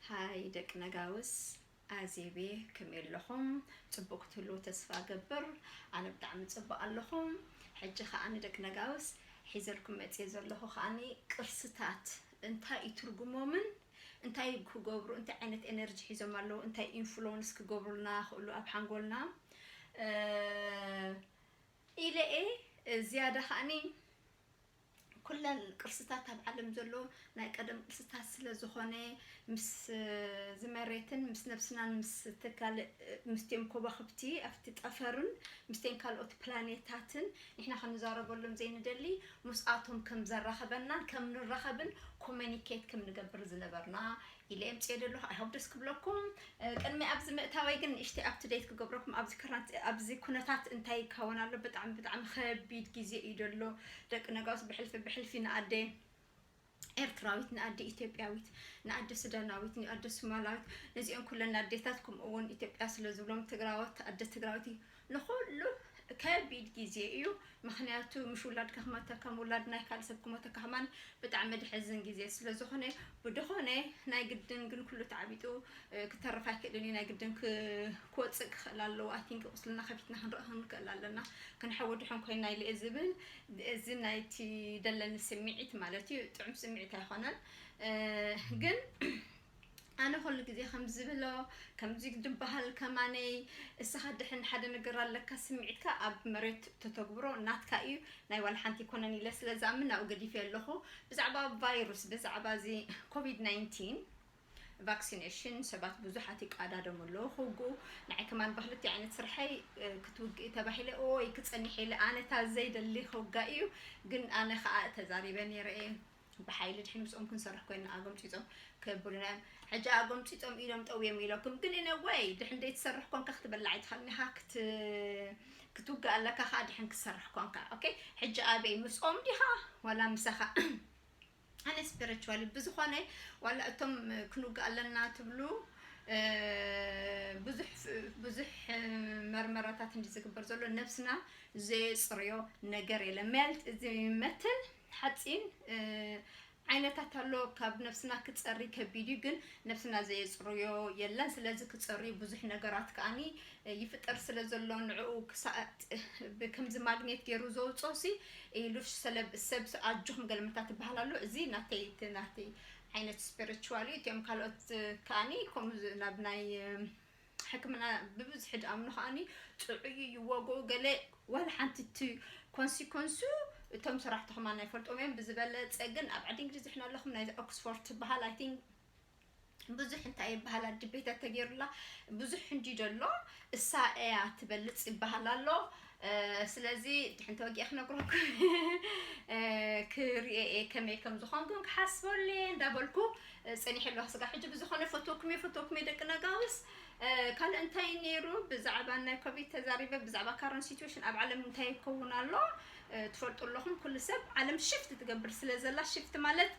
ሃይ ደቂ ነጋውስ ኣዜብየ ከመይ ኣለኹም ጽቡቅ ክትህልዉ ተስፋ እገብር ኣነ ብጣዕሚ ጽቡቅ ኣለኹ ሕጂ ከኣ ንደቂ ነጋውስ ሒዘልኩም መጽየ ዘለኹ ከኣ ቅርስታት እንታይ እዩ ትርጉሞምን እንታይ ክገብሩ እንታይ ዓይነት ኤነርጂ ሒዞም ኣለዉ እንታይ ኢንፍሉወንስ ክገብሩልና ክእሉ ኣብ ሓንጎልና ኢለ እየ ዝያዳ ከኣኒ ኩለን ቅርስታት ኣብ ዓለም ዘሎ ናይ ቀደም ቅርስታት ስለ ዝኾነ ምስ እዚ መሬትን ምስ ነብስናን ምስቲ ካልእ ምስቲኦም ኮባኽብቲ ኣብቲ ጠፈርን ምስቲን ካልኦት ፕላኔታትን ንሕና ክንዛረበሎም ዘይንደሊ ምስኣቶም ከም ዘራኽበናን ከም ንራኸብን ኮመኒኬት ከም ንገብር ዝነበርና ኢለ እየ ኣምጺኤ ዘለኹ ኣይ ሆፕ ደስ ክብለኩም ቅድሚ ኣብዚ ምእታወይ ግን ንእሽተይ ኣፕ ቱ ደት ክገብረኩም ኣብዚ ከረንት ኣብዚ ኩነታት እንታይ ይከወን ኣሎ ብጣዕሚ ብጣዕሚ ከቢድ ግዜ እዩ ዘሎ ደቂ ነጋውስ ብሕልፊ ብሕልፊ ንኣደ ኤርትራዊት ንኣደ ኢትዮጵያዊት ንኣደ ሱዳናዊት ንኣደ ሱማላዊት ነዚኦም ኩለን ኣዴታት ከምኡ እውን ኢትዮጵያ ስለ ዝብሎም ትግራዎት ኣደ ትግራዊት ንኹሉ ከቢድ ግዜ እዩ ምኽንያቱ ምሽ ውላድካ ክመተካ ከም ውላድ ናይ ካልእ ሰብ ክመተካ ከማን ብጣዕሚ ደሕዝን ግዜ ስለ ዝኾነ ብደኾነ ናይ ግድን ግን ኩሉ ተዓቢጡ ክተርፍ ኣይክእልን እዩ ናይ ግድን ክወፅእ ክኽእል ኣለዎ ኣይ ቲንክ ቁስልና ከፊትና ክንርኢ ክንክእል ኣለና ክንሐዊ ድሑን ኮይና ኢለ ዝብል እዚ ናይቲ ደለኒ ስምዒት ማለት እዩ ጥዑም ስምዒት ኣይኮነን ግን ኣነ ኩሉ ግዜ ከም ዝብሎ ከምዚ ድባሃል ከማነይ እስኻ ድሕን ሓደ ነገር ኣለካ ስሚዒትካ ኣብ መሬት ተተግብሮ ናትካ ኢዩ ናይ ዋላ ሓንቲ ኣይኮነን ኢለ ስለ ዝኣምን ናብኡ ገዲፌዮ ኣለኹ ብዛዕባ ቫይሩስ ብዛዕባ እዚ ኮቪድ ናይንቲን ቫክሲነሽን ሰባት ብዙሓት ይቃዳደሙ ኣለዉ ክውግኡ ንዓይ ከማን ብክልቲኡ ዓይነት ስርሐይ ክትውግኢ ተባሂለ ኦይ ክጸኒሕ ኢለ ኣነ እታ ዘይደሊ ክውጋእ ኢዩ ግን ኣነ ከኣ ተዛሪበ ነይረ ኢየ ብሓይሊ ድሕሪ ምስኦም ክንሰርሕ ኮይና ኣጎምጺጾም ከብሉና እዮም ሕጂ ኣጎምጺጾም ኢዶም ጠውዮም ኢለኩም ግን እነ ወይ ድሕን ደይትሰርሕ ኮንካ ክትበላ ኣይትኸልኒኻ ክት ክትውጋእ ኣለካ ከዓ ድሕን ክትሰርሕ ኮንካ ኦኬ ሕጂ ኣበይ ምስኦም ዲኻ ዋላ ምሳኻ ኣነ ስፒሪቹዋሊ ብዝኾነ ዋላ እቶም ክንውጋእ ኣለና ትብሉ ብዙሕ ብዙሕ መርመራታት እንዲ ዝግበር ዘሎ ነብስና ዘየፅርዮ ነገር የለ መልት እዚ መተን ሓጺን ዓይነታት ኣሎ ካብ ነብስና ክጸሪ ከቢድ እዩ ግን ነብስና ዘየጽርዮ የለን ስለዚ ክጸርዩ ብዙሕ ነገራት ከኣኒ ይፍጠር ስለ ዘሎ ንዕኡ ክሳእት ከምዚ ማግኔት ገይሩ ዘውጾ ሲ ኢሉሽ ሰለብ ሰብ ኣጆኹም ገልምታ ትበሃል ኣሎ እዚ ናተይ ናተይ ዓይነት ስፒሪቹዋል እዩ እቲኦም ካልኦት ከኣኒ ከምኡ ናብ ናይ ሕክምና ብብዝሒ ድኣምኑ ከኣኒ ጥዑይ እዩ ዋግኡ ገለ ዋላ ሓንቲ እቲ ኮንሲኮንሱ እቶም ሰራሕቲ ከማን ኣይፈልጦም እዮም ብዝበለጸ ግን ኣብ ዓዲ እንግሊዝ ድሕና ኣለኹም ናይዚ ኦክስፎርድ ትበሃል ኣይ ቲንክ ብዙሕ እንታይ ይበሃል ኣድቤታት ተገይሩላ ብዙሕ እንዲ ደሎ እሳ እያ ትበልጽ ይበሃል ኣሎ ስለዚ ድሕን ተወጊኤ ክነግረኩ ክርኤ ከመይ ከም ዝኾን ግን ክሓስበሉ እየ እንዳበልኩ ፀኒሐ ኣለኹ ስጋ ሕጂ ብዝኾነ ፈተኩም እየ ፈተኩም እየ ደቂ ነጋውስ ካልእ እንታይ ነይሩ ብዛዕባ ናይ ኮቪድ ተዛሪበ ብዛዕባ ካረን ሲትዌሽን ኣብ ዓለም እንታይ ይከውን ኣሎ ትፈልጡ ኣለኹም ኩሉ ሰብ ዓለም ሽፍት ትገብር ስለ ዘላ ሽፍት ማለት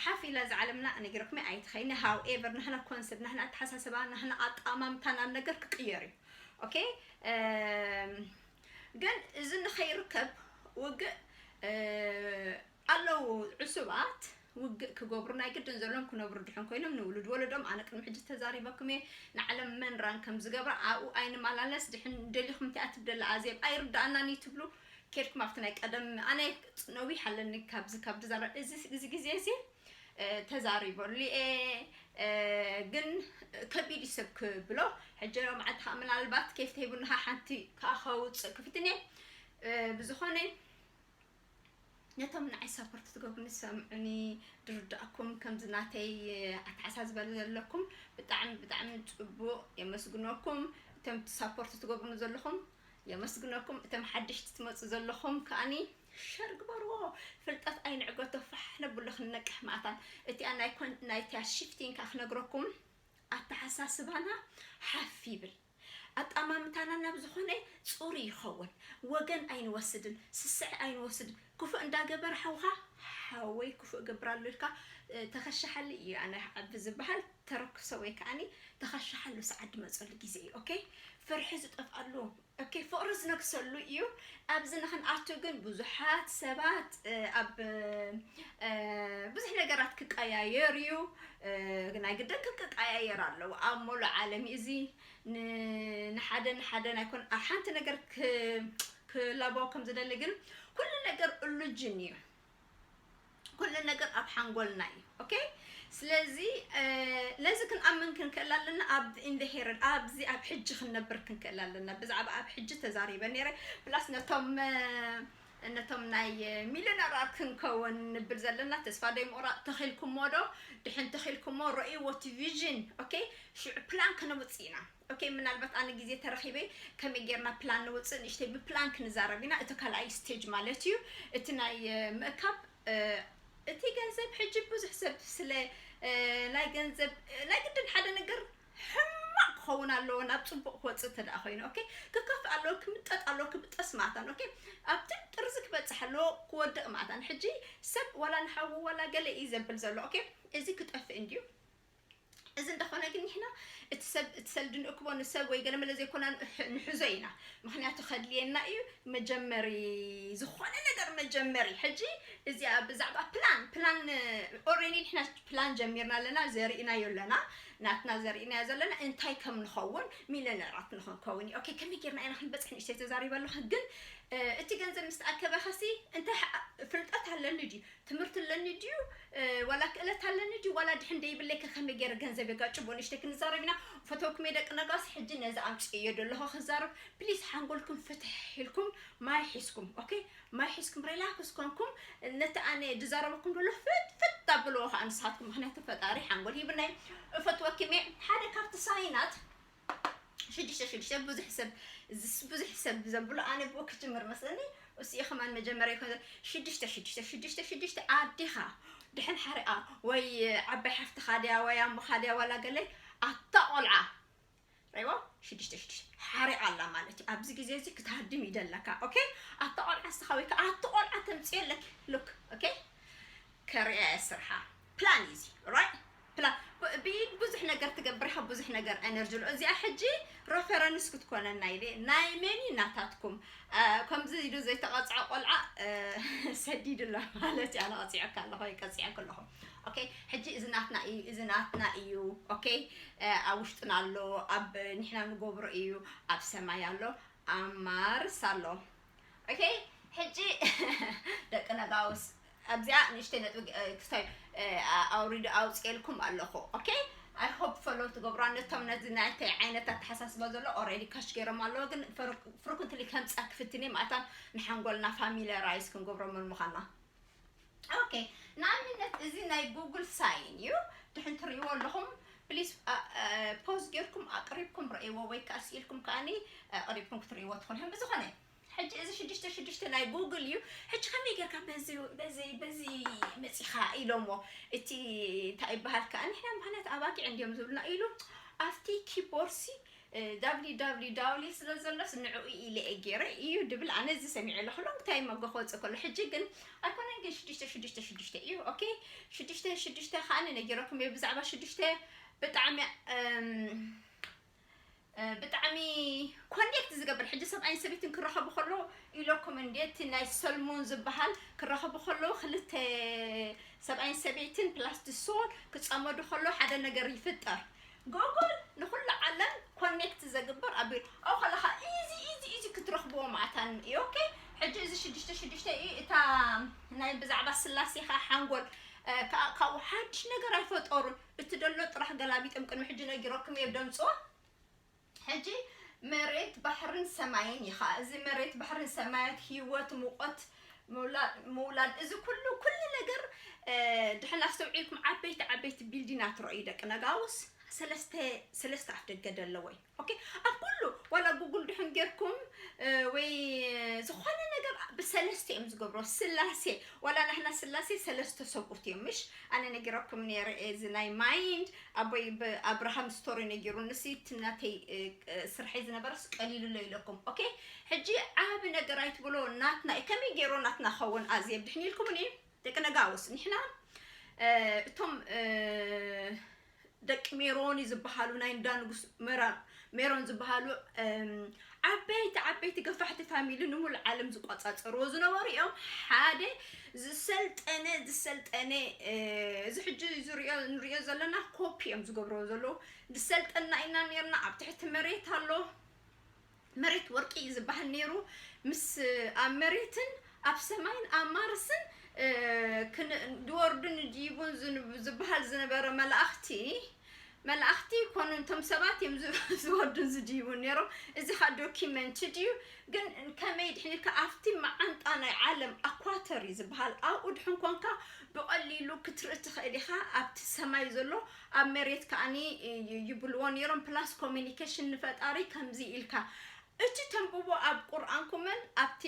ሓፍ ኢላ እዛ ዓለምና እኔ ግርቅሜ ኣይትኸይኒ ሃው ኤቨር ናህና ኮንሰፕት ናህና ኣተሓሳስባ ናህና ኣጠማምታ ናብ ነገር ክቅየር እዩ ኦኬ ግን እዚ ንኸይርከብ ውግእ ኣለው ዕሱባት ውግእ ክገብሩ ናይ ግድን ዘለዎም ክነብሩ ድሕን ኮይኖም ንውሉድ ወለዶም ኣነ ቅድሚ ሕጂ ተዛሪበኩም እየ ንዓለም መንራን ከም ዝገብራ ኣብኡ ኣይንመላለስ ድሕን ደሊኹም እንታይ ትብደላ ኣዜብ ኣይርዳእናን እዩ ትብሉ ኬድኩም ኣብቲ ናይ ቀደም ኣነ ነዊሕ ኣለኒ ካብዚ ካብ ድዛረብ እዚ እዚ ግዜ እዚ ተዛሪበሉ እየ ግን ከቢድ እዩ ሰብ ክብሎ ሕጂ መዓልቲ ከዓ ምናልባት ኬፍ ተሂቡና ሓንቲ ከዓ ከውፅእ ክፍትን እየ ብዝኾነ ነቶም ንዓይ ሳፖርት ትገብሩኒ ሰምዑኒ ድርዳእኩም ከምዚ ናተይ ኣተሓሳስባ ዘለኩም ብጣዕሚ ብጣዕሚ ፅቡቕ የመስግነኩም እቶም ሳፖርት ትገብሩኒ ዘለኹም የመስግነኩም እቶም ሓደሽቲ ትመጹ ዘለኹም ከኣኒ ሸር ግበርዎ ፍልጠት ኣይንዕገቶ ፋሕ ነብሎ ክንነቅሕ መኣታ እቲኣ ናይ ኮን ናይቲያ ሽፍቲን ከኣ ክነግረኩም ኣተሓሳስባና ሓፍ ይብል ኣጣማምታና ናብ ዝኾነ ጹሩ ይኸውን ወገን ኣይንወስድን ስስዐ ኣይንወስድን ክፉእ እንዳገበረ ሓውኻ ሓወይ ክፉእ እገብራሉ ኢልካ ተኸሻሓሊ እዩ ኣነ ዓቢ ዝበሃል ተረክሶ ወይ ከኣኒ ተኸሻሓሉ ሰዓት ድመጸሉ ግዜ እዩ ኦኬ ፍርሒ ዝጠፍኣሉ ኦኬ ፍቕሪ ዝነግሰሉ እዩ ኣብዚ ንኽንኣቱ ግን ብዙሓት ሰባት ኣብ ብዙሕ ነገራት ክቀያየር እዩ ናይ ግድን ክቀያየር ኣለዎ ኣብ ሞሉእ ዓለም እዩ እዚ ንሓደ ንሓደ ናይ ኮን ኣብ ሓንቲ ነገር ክለቦ ከም ዝደሊ ግን ኩሉ ነገር እሉጅን እዩ ኩሉ ነገር ኣብ ሓንጎልና እዩ ኦኬ ስለዚ ነዚ ክንኣምን ክንክእል ኣለና ኣብ ኢንደሄረን ኣብዚ ኣብ ሕጂ ክንነብር ክንክእል ኣለና ብዛዕባ ኣብ ሕጂ ተዛሪበ ነይረ ፕላስ ነቶም ነቶም ናይ ሚሊዮነራት ክንከውን ንብል ዘለና ተስፋ ደይ ምቑራፅ ተኺልኩሞ ዶ ድሕን ተኺልኩሞ ረእይዎ እቲ ቪዥን ኦኬ ሽዑ ፕላን ከነውፅእ ኢና ኦኬ ምናልባት ኣነ ግዜ ተረኺበ ከመይ ጌርና ፕላን ነውጽእ ንእሽተይ ብፕላን ክንዛረብ ኢና እቲ ካልኣይ ስቴጅ ማለት እዩ እቲ ናይ ምእካብ እቲ ገንዘብ ሕጂ ብዙሕ ሰብ ስለ ናይ ገንዘብ ናይ ግድን ሓደ ነገር ሕማቅ ክኸውን ኣለዎ ናብ ጽቡቅ ክወጽእ እንተ ደኣ ኮይኑ ኦኬ ክከፍእ ኣለዎ ክምጠጥ ኣለዎ ክብጠስ ማታን ኦኬ ኣብቲ ጥርዚ ክበጽሕ ኣለዎ ክወድቅ ማታን ሕጂ ሰብ ዋላ ንሓዉ ዋላ ገለ እዩ ዘብል ዘሎ ኦኬ እዚ ክጠፍእ እንድዩ እዚ እንተኾነ ግን ንሕና እቲ ሰብ እቲ ሰልዲ ንእክቦ ንሰብ ወይ ገለመለ ዘይኮና ንሕዞ ኢና ምክንያቱ ከድልየና እዩ መጀመሪ ዝኾነ ነገር መጀመሪ ሕጂ እዚኣ ብዛዕባ ፕላን ፕላን ኦሬዲ ንሕና ፕላን ጀሚርና ኣለና ዘርእናዮ ኣለና ናትና ዘርእናዮ ዘለና እንታይ ከም ንኸውን ሚለነራት ንክንከውን እዩ ኦኬ ከመይ ጌርና ኢና ክንበፅሕ ንእሽተይ ተዛሪበ ኣለኹ ግን እቲ ገንዘብ ምስ ተኣከበ ከሲ እንታይ ፍልጠት ኣለኒ ድዩ ትምህርቲ ኣለኒ ድዩ ዋላ ክእለት ኣለኒ ድዩ ዋላ ድሕን ደይብለይ ከ ከመይ ገይረ ገንዘብ የጋጭቦ ንእሽተይ ክንዛረብ ኢና ፈተውኩም እየ ደቂ ነጋሲ ሕጂ ነዚ ኣምፅኤዮ ደለኹ ክዛረብ ፕሊስ ሓንጎልኩም ፍትሕ ኢልኩም ማይ ሒዝኩም ኦኬ ማይ ሒዝኩም ሪላክስ ኮንኩም ነቲ ኣነ ዝዛረበኩም ደለኹ ፍትፍት ኣብልዎ ከዓ ንስኻትኩም ምክንያቱ ፈጣሪ ሓንጎል ሂብናይ እፈትወኪም እየ ሓደ ካብቲ ሳይናት ሽዱሽተ ሽዱሽተ ብዙሕ ሰብ እዚስ ብዙሕ ሰብ ዘብሎ ኣነ ብኡ ክጅምር መስለኒ እሱ ከማን መጀመርያ ይኮን ሽዱሽተ ሽዱሽተ ሽዱሽተ ሽዱሽተ ኣዴኻ ድሕን ሓሪቓ ወይ ዓባይ ሓፍትኻ ድያ ወይ ኣሞኻ ድያ ዋላ ገለይ ኣታ ቆልዓ ረይዎ ሽዱሽተ ሽዱሽተ ሓሪቕ ኣላ ማለት እዩ ኣብዚ ግዜ እዚ ክትሃድም ይደለካ ኦኬ ኣቲ ቆልዓ ስኻ ወይ ከዓ ኣቲ ቆልዓ ተምፅዮ ኣለኪ ሉክ ኦኬ ከርእያ እየ ስርሓ ፕላን ኢዚ ራይት ፕላን ብኢድ ብዙሕ ነገር ትገብር ኢኻ ብዙሕ ነገር ኤነርጂ ኣሎ እዚኣ ሕጂ ረፈረንስ ክትኮነና ኢለ ናይ መኒ ናታትኩም ከምዚ ኢሉ ዘይተቐፅዐ ቆልዓ ሰዲድ ኣሎ ማለት እያ ነቐፂዐካ ኣለኹ ይቀፅዐክ ኣለኹ ኦኬ ሕጂ እዚ ናትና እዩ እዚ ናትና እዩ ኦኬ ኣብ ውሽጥና ኣሎ ኣብ ንሕና ንገብሮ እዩ ኣብ ሰማይ ኣሎ ኣብ ማርስ ኣሎ ኦኬ ሕጂ ደቂ ነጋውስ ኣብዚኣ ንእሽተይ ነጥቢ እ፣ ክስታይ እ፣ ኣ- ኣውሪዱ ኣውፅኤልኩም ኣለኹ ኦኬ ኣይ ሆፕ ፈሎ ትገብሩ ነቶም ነዚ ናይተይ ዓይነት ኣተሓሳስባ ዘሎ ኦልሬዲ ካሽ ገይሮም ኣለዎ ግን ፍርኩንትሊ ከምፃ ክፍትኒ ማእታ ንሓንጎልና ፋሚሊራይዝ ክንገብሮ ምን ምዃና ኦኬ ንኣብነት እዚ ናይ ጉግል ሳይን እዩ ድሕን ትርእይዎ ኣለኹም ፕሊስ ፖዝ ጌርኩም ኣቅሪብኩም ረእይዎ ወይ ከዓ ስኢልኩም ከዓኒ ኣቅሪብኩም ክትርእይዎ ትኽእሉ እዮም ብዝኾነ ሕጂ እዚ ሽዱሽተ ሽዱሽተ ናይ ጉግል እዩ ሕጂ ከመይ ጌርካ በዚ በዚ በዚ መፂኻ ኢሎሞ እቲ እንታይ ይበሃል ከዓ ንሕና ምክንያት ኣባጊዕ እንዲዮም ዝብሉና ኢሉ ኣብቲ ኪቦርሲ ዳብሊ ዳብሊ ዳውሊ ስለ ዘሎስ ንዕኡ ኢለ'የ ጌረ ኢዩ ድብል ኣነ እዚ ሰሚዐ ኣለኹ ሎንግ ታይም ኣጎ ክወጽእ ከሎ ሕጂ ግን ኣይኮነን ግን ሽዱሽተ ሽዱሽተ ሽዱሽተ ኢዩ ኦኬ ሽዱሽተ ሽዱሽተ ከኣኒ ነጊረኩም እየ ብዛዕባ ሽዱሽተ ብጣዕሚ ብጣዕሚ ኮኔክት ዝገብር ሕጂ ሰብኣይን ሰበይትን ክራኸቡ ከለዉ ኢለኩም እንዴ እቲ ናይ ሰልሙን ዝበሃል ክራኸቡ ከለዉ ክልተ ሰብኣይን ሰበይትን ፕላስ ድሶን ክጸመዱ ከለዉ ሓደ ነገር ይፍጠር ጎጎል ንኩሉ ዓለም ኮኔክት ዘግብር ኣቢሉ ኣብኡ ከለካ ኢዚ ኢዚ ኢዚ ክትረክብዎ ማኣት ኣን ኢዩ ኦኬ ሕጂ እዚ ሽዱሽተ ሽዱሽተ ኢዩ እታ ናይ ብዛዕባ ስላሴ ከኣ ሓንጎል ከኣ ካብኡ ሓድሽ ነገር ኣይፈጠሩን እቲ ደሎ ጥራሕ ገላቢጦም ቅድሚ ሕጂ ነጊረኩም ኢየ ደምጽዋ ሕጂ መሬት ባሕርን ሰማይን ኢኻ እዚ መሬት ባሕርን ሰማያት ሂወት ሙቆት ምውላድ እዚ ኩሉ ኩሉ ነገር ድሕን ኣስተውዒልኩም ዓበይቲ ዓበይቲ ቢልዲናት ረእዩ ደቂ ነጋውስ ሰለስተ ሰለስተ ኣፍ ደገ ደለወይ ኦኬ ኣብ ኩሉ ዋላ ጉግል ድሕን ጌርኩም ወይ ዝኾነ ነገር ብሰለስተ እዮም ዝገብሮ ስላሴ ዋላ ናሕና ስላሴ ሰለስተ ሰብኡት እዮም ምሽ ኣነ ነጊረኩም ነረ እዚ ናይ ማይንድ ኣቦይ ብ ኣብርሃም ስቶሪ ነጊሩኒሲ እቲ ናተይ ስርሐይ ዝነበረስ ቀሊሉለይ ኢለኩም ኦኬ ሕጂ ዓቢ ነገር ኣይትብሎ ናትና እዩ ከመይ ጌሩ ናትና ክኸውን ኣዜብ ድሕን ኢልኩምኒ ደቂ ነጋውስ ንሕና እቶም ደቂ ሜሮኒ ዝበሃሉ ናይ እንዳ ንጉስ መራር ሜሮን ዝበሃሉ ዓበይቲ ዓበይቲ ገፋሕቲ ፋሚሊ ንሙሉእ ዓለም ዝቆፃፀርዎ ዝነበሩ እዮም ሓደ ዝሰልጠነ ዝሰልጠነ እዚ ሕጂ ዝሪኦ ንሪኦ ዘለና ኮፒ እዮም ዝገብርዎ ዘለዉ ዝሰልጠና ኢና ነርና ኣብ ትሕቲ መሬት ኣሎ መሬት ወርቂ እዩ ዝበሃል ነይሩ ምስ ኣብ መሬትን ኣብ ሰማይን ኣብ ማርስን ድወርዱን ድይቡን ዝበሃል ዝነበረ መላእኽቲ መላእክቲ ኮኑ እቶም ሰባት እዮም ዝወርዱን ዝድይቡን ኔሮም እዚ ከኣ ዶኪመንትድ እዩ ግን ከመይ ድሕን ኢልካ ኣብቲ መዓንጣ ናይ ዓለም ኣኳተር እዩ ዝበሃል ኣብኡ ድሕን ኮንካ ብቐሊሉ ክትርኢ ትኽእል ኢኻ ኣብቲ ሰማይ ዘሎ ኣብ መሬት ከኣኒ ይብልዎ ኔሮም ፕላስ ኮሚኒኬሽን ንፈጣሪ ከምዚ ኢልካ እቲ ተንብቦ ኣብ ቁርኣንኩምን ኣብቲ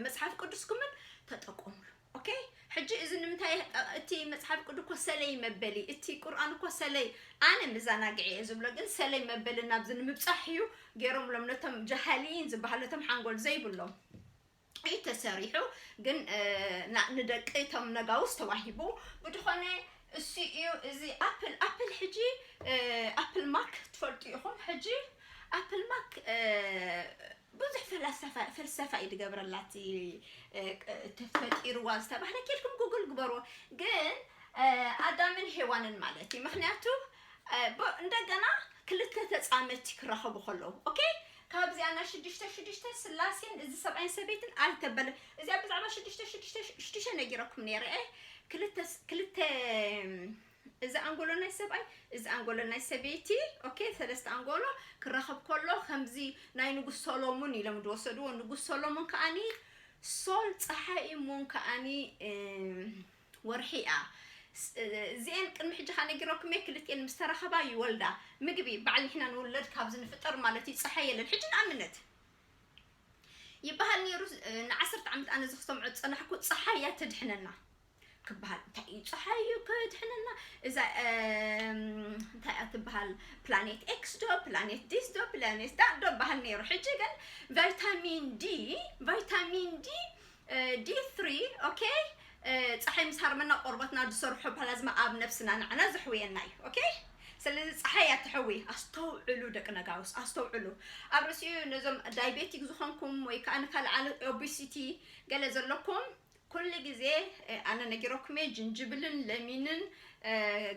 መጽሓፍ ቅዱስኩምን ተጠቀሙሉ ኦኬ ሕጂ እዚ ንምንታይ እቲ መጽሓፍ ቅዱስ እኮ ሰለይ መበሊ እቲ ቁርኣን እኮ ሰለይ ኣነ መዘናግዒ እየ ዝብሎ ግን ሰለይ መበሊ ናብዚ ንምብጻሕ እዩ ገይሮምሎም ነቶም ጃሃሊን ዝበሃሉ ነቶም ሓንጎል ዘይብሎም እዩ ተሰሪሑ ግን ንደቂ እቶም ነጋውስ ተዋሂቡ ብድኾነ እሱ እዩ እዚ ኣፕል ኣፕል ሕጂ ኣፕል ማክ ትፈልጡ ኢኹም ሕጂ ኣፕል ማክ ብዙሕ ፍላሰፋ ፍልሰፋ እዩ ዝገብረላ እቲ ተፈጢርዋ ዝተባህለ ኬድኩም ጉግል ግበርዎ ግን ኣዳምን ሄዋንን ማለት እዩ ምክንያቱ እንደገና ክልተ ተፃመድቲ ክራኸቡ ከለዉ ኦኬ ካብዚኣ ናይ ሽዱሽተ ሽዱሽተ ስላሴን እዚ ሰብኣይን ሰበይትን ኣይተበለ እዚኣ ብዛዕባ ሽዱሽተ ሽዱሽተ ሽዱሽተ ነጊረኩም ነይረ ክልተ ክልተ እዚ ኣንጎሎ ናይ ሰብኣይ እዚ ኣንጎሎ ናይ ሰበይቲ ኦኬ ሰለስተ ኣንጎሎ ክራኸብ ከሎ ከምዚ ናይ ንጉስ ሶሎሙን ኢሎም ዝወሰድዎ ንጉስ ሶሎሙን ከኣኒ ሶል ፀሓይ ሙን ከኣኒ ወርሒ እያ እዚኤን ቅድሚ ሕጂ ከ ነጊረኩም እየ ክልቲኤን ምስ ተራኸባ ይወልዳ ምግቢ በዓል ንሕና ንውለድ ካብዚ ንፍጠር ማለት እዩ ፀሓይ የለን ሕጂ ንኣብነት ይበሃል ነይሩ ንዓሰርተ ዓመት ኣነ እዚ ክሰምዖ ዝፀናሕኩ ፀሓይ እያ ተድሕነና ክበሃል እንታይ እዩ ጸሓይ እዩ ከድሕነና እዛ እንታይ እያ ትበሃል ፕላኔት ኤክስ ዶ ፕላኔት ዲስ ዶ ፕላኔት ዳእ ዶ በሃል ነይሩ ሕጂ ግን ቫይታሚን ዲ ቫይታሚን ዲ ዲ ትሪ ኦኬ ፀሓይ ምስ ሃርመና ቆርበትና ዝሰርሖ ፕላዝማ ኣብ ነብስና ንዓና ዘሕውየና እዩ ኦኬ ስለዚ ፀሓይ እያ ትሕዊ ኣስተውዕሉ ደቂ ነጋውስ ኣስተውዕሉ ኣብ ርእሲኡ ነዞም ዳይቤቲክ ዝኾንኩም ወይ ከዓ ንካልእ ኦቢሲቲ ገለ ዘለኩም ኩሉ ግዜ ኣነ ነጊረኩም እየ ጅንጅብልን ለሚንን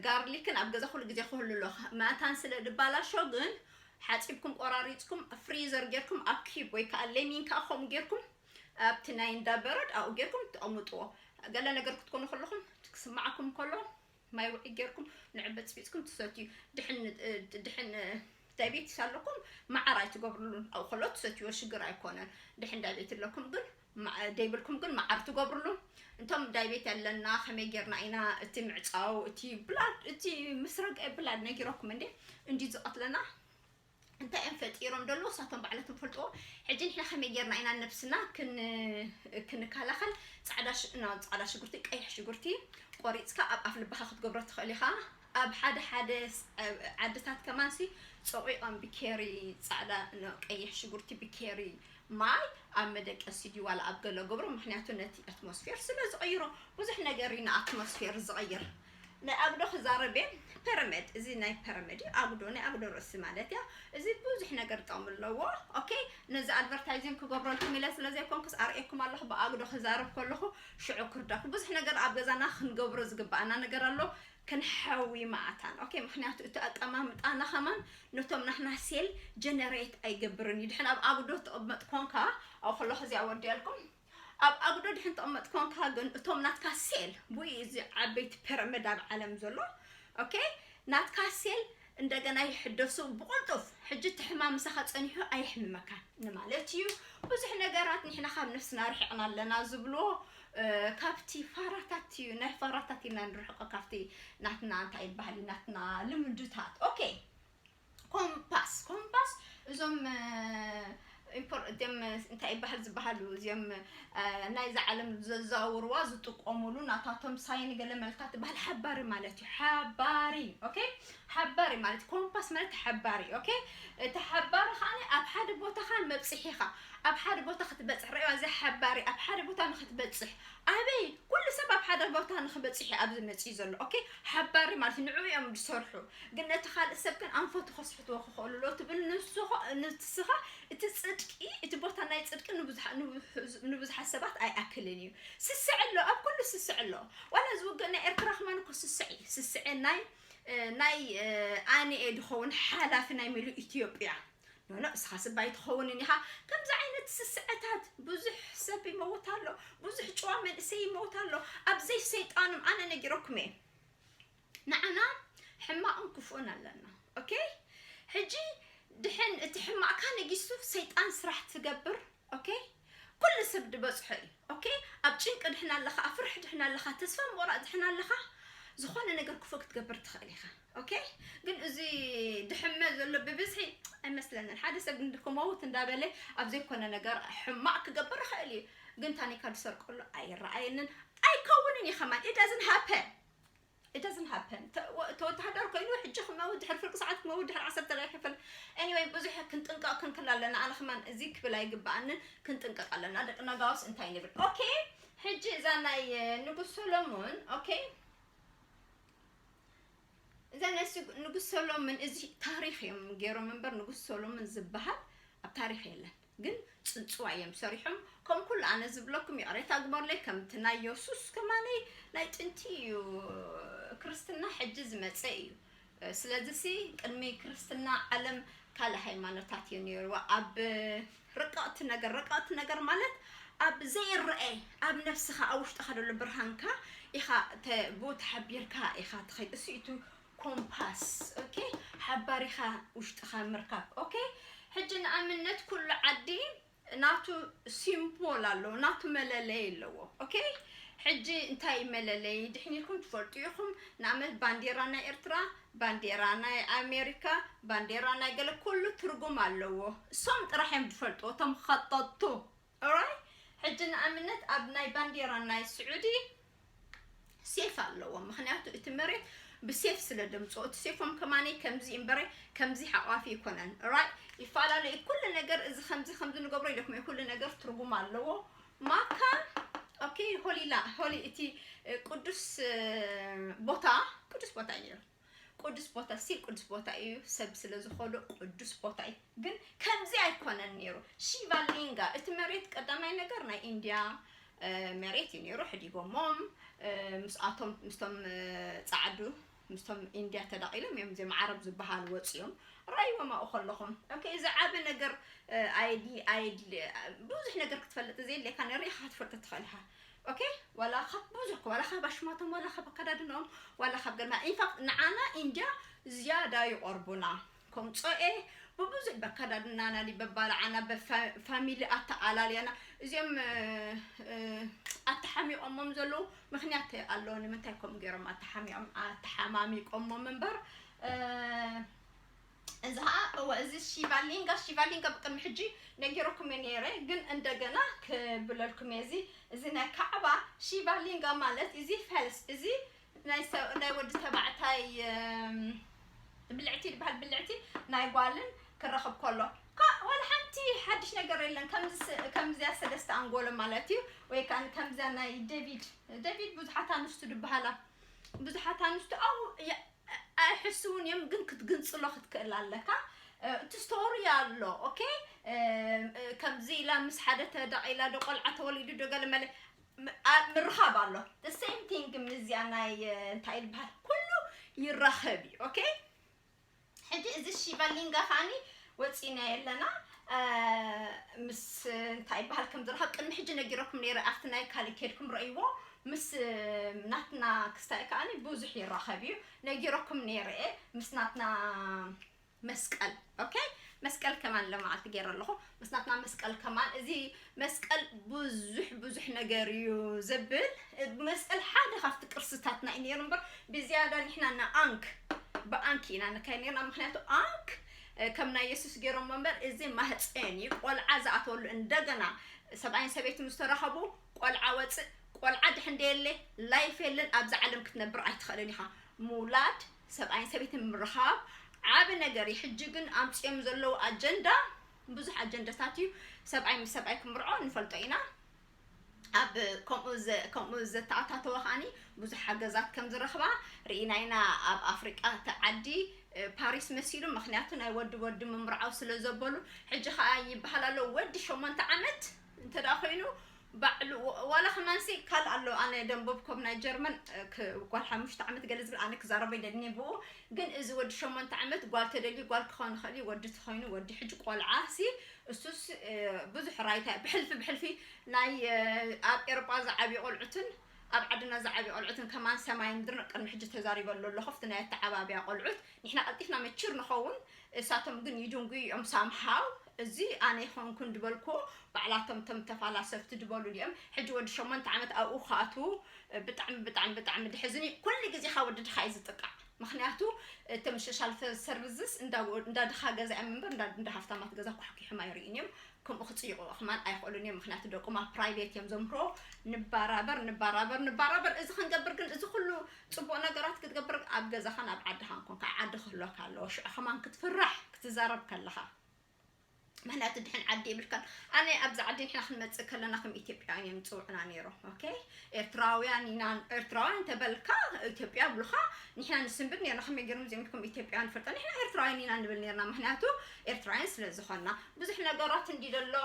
ጋርሊክን ኣብ ገዛ ኩሉ ግዜ ክህሉ ኣሎ መታን ስለ ድባላሾ ግን ሓፂብኩም ቆራሪፅኩም ፍሪዘር ጌርኩም ኣብ ኪብ ወይ ከዓ ለሚን ከዓ ከምኡ ጌርኩም ኣብቲ ናይ እንዳ በረድ ኣብኡ ጌርኩም ተቐምጥዎ ገለ ነገር ክትኮኑ ከለኹም ክስማዓኩም ከሎ ማይ ውዑይ ጌርኩም ንዑ በጽቢጽኩም ትሰትዩ ድሕን ድሕን ዳይቤቲስ ኣለኩም መዓር ኣይትገብርሉን ኣብኡ ከሎ ትሰትይዎ ሽግር ኣይኮነን ድሕን ዳይቤት ኣለኩም ግን ደይብልኩም ግን መዓር ትገብርሉ እንቶም ዳይቤት ኣለና ከመይ ጌርና ኢና እቲ ምዕፃው እቲ ብላድ እቲ ምስ ረግአ ብላድ ነጊረኩም እንዴ እንዲ ዝቐትለና እንታይ እዮም ፈጢሮም ደሎ እሳቶም ባዕለቶም ፈልጥዎ ሕጂ ንሕና ከመይ ጌርና ኢና ነብስና ክንከላኸል ጻዕዳ ጻዕዳ ሽጉርቲ ቀይሕ ሽጉርቲ ቆሪጽካ ኣብ ኣፍ ልባኻ ክትገብሮ ትኽእል ኢኻ ኣብ ሓደ ሓደ ዓድታት ከማንሲ ጸቂቖም ብኬሪ ጻዕዳ ቀይሕ ሽጉርቲ ብኬሪ ማይ ኣብ መደቀሲ ድዩ ዋላ ኣብ ገለ ገብሮ ምክንያቱ ነቲ ኣትሞስፌር ስለ ዝቐይሮ ብዙሕ ነገር እዩ ንኣትሞስፌር ዝቐይር ናይ ኣጉዶ ክዛረብ እየ ፐረመድ እዚ ናይ ፐረመድ እዩ ኣጉዶ ናይ ኣጉዶ ርእሲ ማለት እያ እዚ ብዙሕ ነገር ጥቕሚ ኣለዎ ኦኬ ነዚ ኣድቨርታይዚንግ ክገብረልኩም ኢለ ስለ ዘይኮንኩስ ኣርእየኩም ኣለኹ ብኣጉዶ ክዛረብ ከለኹ ሽዑ ክርዳኹ ብዙሕ ነገር ኣብ ገዛና ክንገብሮ ዝግባኣና ነገር ኣሎ ክንሐዊ ማኣታን ኦኬ ምክንያቱ እቲ ኣቀማምጣና ከማን ነቶም ናትና ሴል ጀነሬት ኣይገብርን እዩ ድሕን ኣብ ኣጉዶ ትቕመጥ ኮንካ ኣብ ከለኹ እዚኣ ወዲያልኩም ኣብ ኣጉዶ ድሕን ተቅመጥ ኮንካ ግን እቶም ናትካ ሴል ቡኡ እዩ እዚ ዓበይቲ ፐረመድ ኣብ ዓለም ዘሎ ኦኬ ናትካ ሴል እንደገና ይሕደሱ ብቕልጡፍ ሕጂ እቲ ሕማም ምሳኻ ጸኒሑ ኣየሕምመካን ንማለት እዩ ብዙሕ ነገራት ንሕና ካብ ነፍስና ርሒቕና ኣለና ዝብልዎ ካብቲ ፋራታት እዩ ናይ ፋራታት ኢና ንርሕቆ ካብቲ ናትና እንታይ ይበሃል ናትና ልምድታት ኦኬ ኮምፓስ ኮምፓስ እዞም ኢምፖር እም እንታይ ይበሃል ዝበሃሉ እዚኦም ናይዛ ዓለም ዘዘዋውርዋ ዝጥቀሙሉ ናታቶም ሳይን ገለ መልካ ትበሃል ሓባሪ ማለት እዩ ሓባሪ ኦኬ ሓባሪ ማለት ኮምፓስ ማለት ሓባሪ ኦኬ እቲ ሓባሪ ከዓኒ ኣብ ሓደ ቦታኻ መብፅሒኻ ኣብ ሓደ ቦታ ክትበፅሕ ረእዋ እዚ ሓባሪ ኣብ ሓደ ቦታ ንክትበፅሕ ኣበይ ኩሉ ሰብ ኣብ ሓደ ቦታ ንክበፅሕ እዩ ኣብዚ መፅኡ ዘሎ ኦኬ ሓባሪ ማለት ንዕኡ እዮም ዝሰርሑ ግን ነቲ ካልእ ሰብ ግን ኣንፈቱ ከስሕትዎ ክኸእሉ ኣለዎ ትብል ንስኾ ንትስኻ እቲ ጽድቂ እቲ ቦታ ናይ ጽድቂ ንብዙሓ ንብዙ ንብዙሓት ሰባት ኣይኣክልን እዩ ስስዐ ኣሎ ኣብ ኩሉ ስስዐ ኣሎ ዋላ እዚ ውግእ ናይ ኤርትራ ከማን እኮ ስስዐ እዩ ስስዐ ናይ ናይ ኣንኤ ድኸውን ሓላፊ ናይ ምሉእ ኢትዮጵያ ኖኖ እስኻ ስብ ኣይትኸውንን ኢኻ ከምዚ ዓይነት ስስዐታት ብዙሕ ሰብ ይመውት ኣሎ ብዙሕ ጭዋ መንእሰይ ይመውት ኣሎ ኣብዘይ ሰይጣኖም ኣነ ነጊረኩም እየ ንዓና ሕማቅን ክፉእን ኣለና ኦኬ ሕጂ ድሕን እቲ ሕማቅካ ነጊሱ ሰይጣን ስራሕ ትገብር ኦኬ ኩሉ ሰብ ድበጽሖ እዩ ኦኬ ኣብ ጭንቂ ድሕን ኣለካ ኣብ ፍርሒ ድሕን ኣለካ ተስፋ ምቁራጽ ድሕን ኣለካ ዝኾነ ነገር ክፉእ ክትገብር ትኽእል ኢኻ ኦኬ ግን እዚ ድሕመ ዘሎ ብብዝሒ ኣይመስለንን ሓደ ሰብ ግን ክመውት እንዳበለ ኣብ ዘይኮነ ነገር ሕማቅ ክገብር ይኽእል እዩ ግን ታኒካ ድሰርቀሉ ኣይረኣየንን ኣይከውንን እዩ ከማን ኢዳዝን ሃፐን it doesn't happen ተወተሃደር ኮይኑ ሕጂ ክመውት ድሕሪ ፍርቂ ሰዓት ክመውት ድሕሪ ዓሰርተ ደቂቅ ክፍል anyway ብዙሕ ክንጥንቀቅ ክንክል ኣለና ኣነ ከማን እዚ ክብል ኣይግባኣንን ክንጥንቀቅ ኣለና ደቂ ነጋውስ እንታይ ንብል ኦኬ ሕጂ እዛ ናይ ንጉስ ሰሎሞን ኦኬ እዛ ናይ ንጉስ ሰሎሞን እዚ ታሪክ እዮም ገይሮም እምበር ንጉስ ሰሎሞን ዝበሃል ኣብ ታሪክ የለን ግን ጽንጽዋይ እዮም ሰሪሖም ከም ኩሉ ኣነ ዝብለኩም ይቅሬታ ግበሩለይ ከምቲ ናይ የሱስ ከማነይ ናይ ጥንቲ እዩ ክርስትና ሕጂ ዝመጸ እዩ ስለዚ ሲ ቅድሚ ክርስትና ዓለም ካልእ ሃይማኖታት እዩ ነይሩ ኣብ ርቀቕቲ ነገር ርቀቕቲ ነገር ማለት ኣብ ዘይረኣይ ኣብ ነፍስኻ ኣብ ውሽጥኻ ዘሎ ብርሃንካ ኢኻ ብኡ ተሓቢርካ ኢኻ ትኸይድ እሱ እዩ ኮምፓስ ኦኬ ሓባሪኻ ውሽጥኻ ምርካብ ኦኬ ሕጂ ንኣምነት ኩሉ ዓዲ ናቱ ሲምፖል ኣለዎ ናቱ መለለይ ኣለዎ ኦኬ ሕጂ እንታይ እዩ መለለይ ድሕን ኢልኩም ትፈልጡ ኢኹም ንኣመት ባንዴራ ናይ ኤርትራ ባንዴራ ናይ ኣሜሪካ ባንዴራ ናይ ገለ ኩሉ ትርጉም ኣለዎ እሶም ጥራሕ እዮም ዝፈልጥዎ እቶም ኸጠጥቱ ኦራይ ሕጂ ንኣምነት ኣብ ናይ ባንዴራ ናይ ስዑዲ ሴፍ ኣለዎም ምክንያቱ እቲ መሬት ብሴፍ ስለ ደምጾ እቲ ሴፎም ከማነይ ከምዚ እምበረ ከምዚ ሓቋፊ ይኮነን ራይ ይፈላለዩ ኩሉ ነገር እዚ ከምዚ ከምዚ ንገብሮ ኢለኩም ኩሉ ነገር ትርጉም ኣለዎ ማካ ኦኬ ሆሊላ ሆሊ እቲ ቅዱስ ቦታ ቅዱስ ቦታ እዩ ቁዱስ ቦታ እስቲል ቁዱስ ቦታ ኢዩ ሰብ ስለ ዝኮዶ ቁዱስ ቦታ ኢዩ ግን ከምዚ ኣይኮነን ኔሩ ሺቫ ሊንጋ እቲ መሬት ቀዳማይ ነገር ናይ ኢንድያ መሬት እዩ ኔሩ ሕዲጎሞም ምስኣቶም ምስቶም ጻዓዱ ምስቶም ኢንድያ ተዳቂሎም እዮም እዚኦም ዓረብ ዝበሃሉ ወጽዮም ራይዎም ኣብኡ ከለኹም ኦኬ እዚ ዓቢ ነገር ኣይዲ ኣይዲ ብዙሕ ነገር ክትፈልጥ ዘየድልየካ ንሪኢኻ ክትፈልጥ ትኽእል ኢኻ ኦኬ ዋላ ካብ ብዙሕ ዋላ ካብ ኣሽማቶም ዋላ ካብ ኣከዳድንኦም ዋላ ካብ ገርና ኢንፋክት ንዓና ኢንድያ ዝያዳ ይቐርቡና ከም ጾኤ ብብዙሕ በከዳድናና ዲ በባልዓና በፋሚሊ ኣተኣላልያና እዚኦም ኣተሓሚቖሞም ዘለዉ ምክንያት ኣለዎ ንምንታይ ከምኡ ገይሮም ኣተሓሚቖም ኣተሓማሚቆሞም እምበር እዚ ኸኣ እወ እዚ ሺቫሊንጋ ሺቫሊንጋ ብቅድሚ ሕጂ ነጊረኩም እየ ነይረ ግን እንደገና ክብለልኩም እየ እዚ እዚ ናይ ካዕባ ሺቫሊንጋ ማለት እዚ ፈልስ እዚ ናይ ሰብ ናይ ወዲ ተባዕታይ እም፣ ብልዕቲ ዝበሃል ብልዕቲ ናይ ጓልን ክረኽብ ከሎ ካ- ዋላ ሓንቲ ሓድሽ ነገር የለን ከምዚ ስ- ከምዚያ ሰለስተ ኣንጎሎ ማለት እዩ ወይ ከዓ ከምዚያ ናይ ዴቪድ ዴቪድ ብዙሓት ኣንስቱ ዝበሃላ ብዙሓት ኣንስቱ ኣብኡ የ- ኣይሕስውን እዮም ግን ክትግንጽሎ ክትክእል ኣለካ እቲ ስቶሪ ኣሎ ኦኬ ከምዚ ኢላ ምስ ሓደ ተደቂ ኢላ ዶ ቆልዓ ተወሊዱ ዶ ገለ መለ ም- ኣ- ምርኻብ ኣሎ the same thing ምስዚኣ ናይ እ፣ እንታይ እዩ ዝበሃል ኩሉ ይራኸብ እዩ ኦኬ ሕጂ እዚ ሺቫሊንጋ ከዓኒ ወጺእናዮ ኣለና ምስ እንታይ ይበሃል ከም ዝረኸብ ቅድሚ ሕጂ ነጊረኩም ነይረ ኣብቲ ናይ ካልእ ኬድኩም ረእይዎ ምስ ናትና ክስታይ ከኣኒ ብዙሕ ይራኸብ እዩ ነጊረኩም ነይረ እየ ምስ ናትና መስቀል ኦኬ መስቀል ከማን ለመዓልቲ ገይረ ኣለኹ ምስናትና መስቀል ከማን እዚ መስቀል ብዙሕ ብዙሕ ነገር እዩ ዘብል መስቀል ሓደ ካብቲ ቅርስታትና እዩ ነይሩ እምበር ብዝያዳ ንሕና ንኣንክ ብኣንክ ኢና ንካይ ነርና ምክንያቱ ኣንክ ከም ናይ የሱስ ገይሮሞ እምበር እዚ ማህፀን እዩ ቆልዓ ዝኣተወሉ እንደገና ሰብኣይን ሰበይት ምስ ተራኸቡ ቆልዓ ወፅእ ቆልዓ ድሕ እንደየለ ላይፍ የለን ኣብዚ ዓለም ክትነብር ኣይትኽእልን ኢኻ ምውላድ ሰብኣይን ሰበይትን ምርኻብ ዓብ ነገር እዩ ሕጂ ግን ኣምፅኦም ዘለዉ ኣጀንዳ ብዙሕ ኣጀንዳታት እዩ ሰብኣይ ምስ ሰብኣይ ክምርዖ ንፈልጦ ኢና ኣብ ከምኡ ዘተኣታተወ ከኣ ብዙሕ ሓገዛት ከም ዝረኽባ ርኢና ኢና ኣብ ኣፍሪቃ እቲ ዓዲ ፓሪስ መሲሉ ምክንያቱ ናይ ወዲ ወዲ ምምርዓው ስለ ዘበሉ ሕጂ ከኣ ይበሃል ኣሎ ወዲ ሸሞንተ ዓመት እንተ ኮይኑ ባዕሉ ዋላ ከማንሲ ካል ኣሎ ኣነ ደንበብ ኮብ ናይ ጀርመን ጓል ሓሙሽተ ዓመት ገለ ዝብል ኣነ ክዛረበ ይደልኒ ብኡ ግን እዚ ወዲ ሸሞንተ ዓመት ጓል ተደልዩ ጓል ክኸውን ይኽእል እዩ ወዲ ተኾይኑ ወዲ ሕጂ ቆልዓሲ እሱስ ብዙሕ ራይታ ብሕልፊ ብሕልፊ ናይ ኣብ ኤሮጳ ዝዓብዩ ቆልዑትን ኣብ ዓድና ዝዓብዩ ቆልዑትን ከማን ሰማይ ምድርን ቅድሚ ሕጂ ተዛሪበሉ ኣለኹ ኣብቲ ናይ ኣተዓባብያ ቆልዑት ንሕና ቀልጢፍና መችር ንኸውን እሳቶም ግን ይድንጉዩ እዮም ሳምሃው እዚ ኣነ ይኸንኩን ድበልኩዎ ባዕላቶም ቶም ተፋላሰፍቲ ድበሉ ድኦም ሕጂ ወዲ ሸሞንተ ዓመት ኣብኡ ክኣትዉ ብጣዕሚ ብጣዕሚ ብጣዕሚ ድሕዝን እዩ ኩሉ ግዜ ካብ ወዲ ድኻ እዩ ዝጥቃዕ ምኽንያቱ እቶም ሸሻል ሰርቭዝስ እንዳ ድኻ ገዛ እዮም እምበር እንዳ ሃፍታማት ገዛ ኳሕኲሖም ኣይርእዩን እዮም ከምኡ ክጽይቑ ኽማን ኣይኽእሉን እዮም ምኽንያቱ ደቆም ኣብ ፕራይቬት እዮም ዘምህሮ ንባራበር ንባራበር ንባራበር እዚ ክንገብር ግን እዚ ኩሉ ጽቡቕ ነገራት ክትገብር ኣብ ገዛኻን ኣብ ዓድኻን ኮንካ ዓዲ ክህሎካ ኣለዎ ሽዑ ኽማን ክትፍራሕ ክትዛረብ ከለኻ ምክንያቱ ድሕን ዓዲ የብልካን ኣነ ኣብዚ ዓዲ ንሕና ክንመፅእ ከለና ከም ኢትዮጵያውያን እዮም ዝፅውዑና ነይሮም ኦኬ ኤርትራውያን ኢና ኤርትራውያን እንተበልካ ኢትዮጵያ ብልካ ንሕና ንስንብድ ነርና ከመይ ገይሮም እዚኦም ከም ኢትዮጵያውያን ንፈልጦ ንሕና ኤርትራውያን ኢና ንብል ነርና ምክንያቱ ኤርትራውያን ስለ ዝኾና ብዙሕ ነገራት እንዲ ዘሎ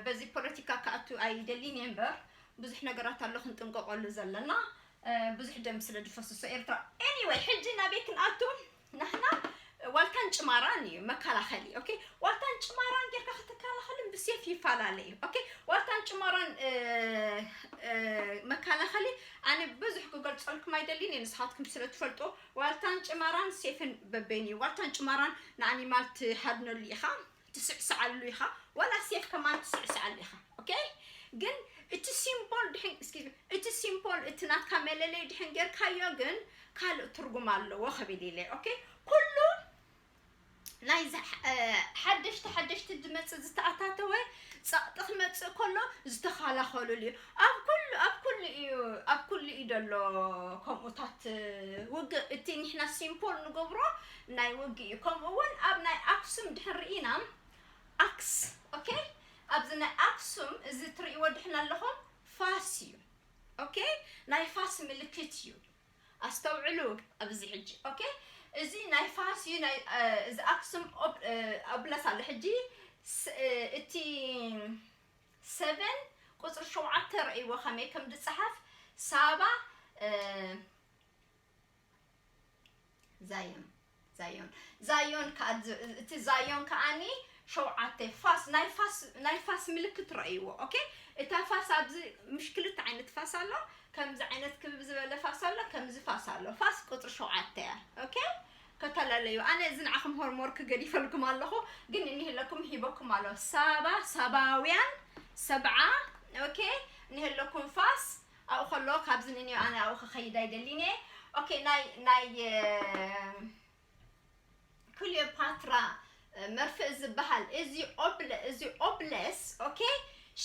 በዚ ፖለቲካ ክኣቱ ኣይደሊን እየ እምበር ብዙሕ ነገራት ኣሎ ክንጥንቀቀሉ ዘለና ብዙሕ ደም ስለ ዝፈስሶ ኤርትራ ኤኒወይ ሕጂ ናበይ ክንኣቱ ንሕና ዋልታን ጭማራን እዩ መከላኸሊ ኦኬ ዋልታን ጭማራን ጌርካ ክትከላኸልን ብሴፍ ይፈላለ እዩ ኦኬ ዋልታን ጭማራን መከላኸሊ ኣነ ብዙሕ ክገልፀልኩም ኣይደሊን እየ ንስኻትኩም ስለ ትፈልጦ ዋልታን ጭማራን ሴፍን በበይን እዩ ዋልታን ጭማራን ንኣኒማል ትሃድነሉ ኢኻ ትስዕስዓሉ ኢኻ ዋላ ሴፍ ከማን ትስዕስዓሉ ኢኻ ok ግን እቲ ሲምቦል ድሕን excuse me እቲ ሲምቦል እቲ ናትካ መለለይ ድሕን ጌርካዮ ግን ካልእ ትርጉም ኣለዎ ክብል ኢለ ok ኩሉ ናይ ሓደሽቲ ሓደሽቲ ዝመጽእ ዝተኣታተወ ጸቕጢ ክመጽእ ከሎ ዝተኸላኸሉሉ እዩ ኣብ ኩሉ ኣብ ኩሉ እዩ ኣብ ኩሉ እዩ ዘሎ ከምኡታት ውግእ እቲ ንሕና ሲምፖል ንገብሮ ናይ ውግእ እዩ ከምኡ ውን ኣብ ናይ ኣክሱም ድሕን ርኢና ኣክስ ኦኬ ኣብዚ ናይ ኣክሱም እዚ ትርእይዎ ድሕን ኣለኹም ፋስ እዩ ኦኬ ናይ ፋስ ምልክት እዩ ኣስተውዕሉ ኣብዚ ሕጂ ኦኬ እዚ ናይ ፋስ እዩ ናይ እዚ ኣክሱም ኣብነት ኣሎ ሕጂ እቲ ሰቨን ቁፅሪ ሸውዓተ ረእይዎ ከመይ ከም ዝፀሓፍ ሳባ ዛዮን ዛዮን ዛዮን እቲ ዛዮን ከዓኒ ሸውዓተ ፋስ ናይ ፋስ ናይ ፋስ ምልክት ረእይዎ ኦኬ እታ ፋስ ኣብዚ ምሽ ክልተ ዓይነት ፋስ ኣሎ ከምዚ ዓይነት ክብብ ዝበለ ፋስ ኣሎ ከምዚ ፋስ ኣሎ ፋስ ቁፅሪ ሸውዓተ እያ ኦኬ ከተላለዩ ኣነ እዚ ንዓኹም ሆርሞር ክገዲፈልኩም ኣለኹ ግን እኒህለኩም ሂበኩም ኣሎ ሳባ ሳባውያን ሰብዓ ኦኬ እኒህለኩም ፋስ ኣብኡ ከሎ ካብ ዝንንዮ ኣነ ኣብኡ ክከይድ ኣይደሊን እየ ኦኬ ናይ ናይ ክልዮፓትራ መርፍእ ዝበሃል እዚ ኦብለ እዚ ኦብለስ ኦኬ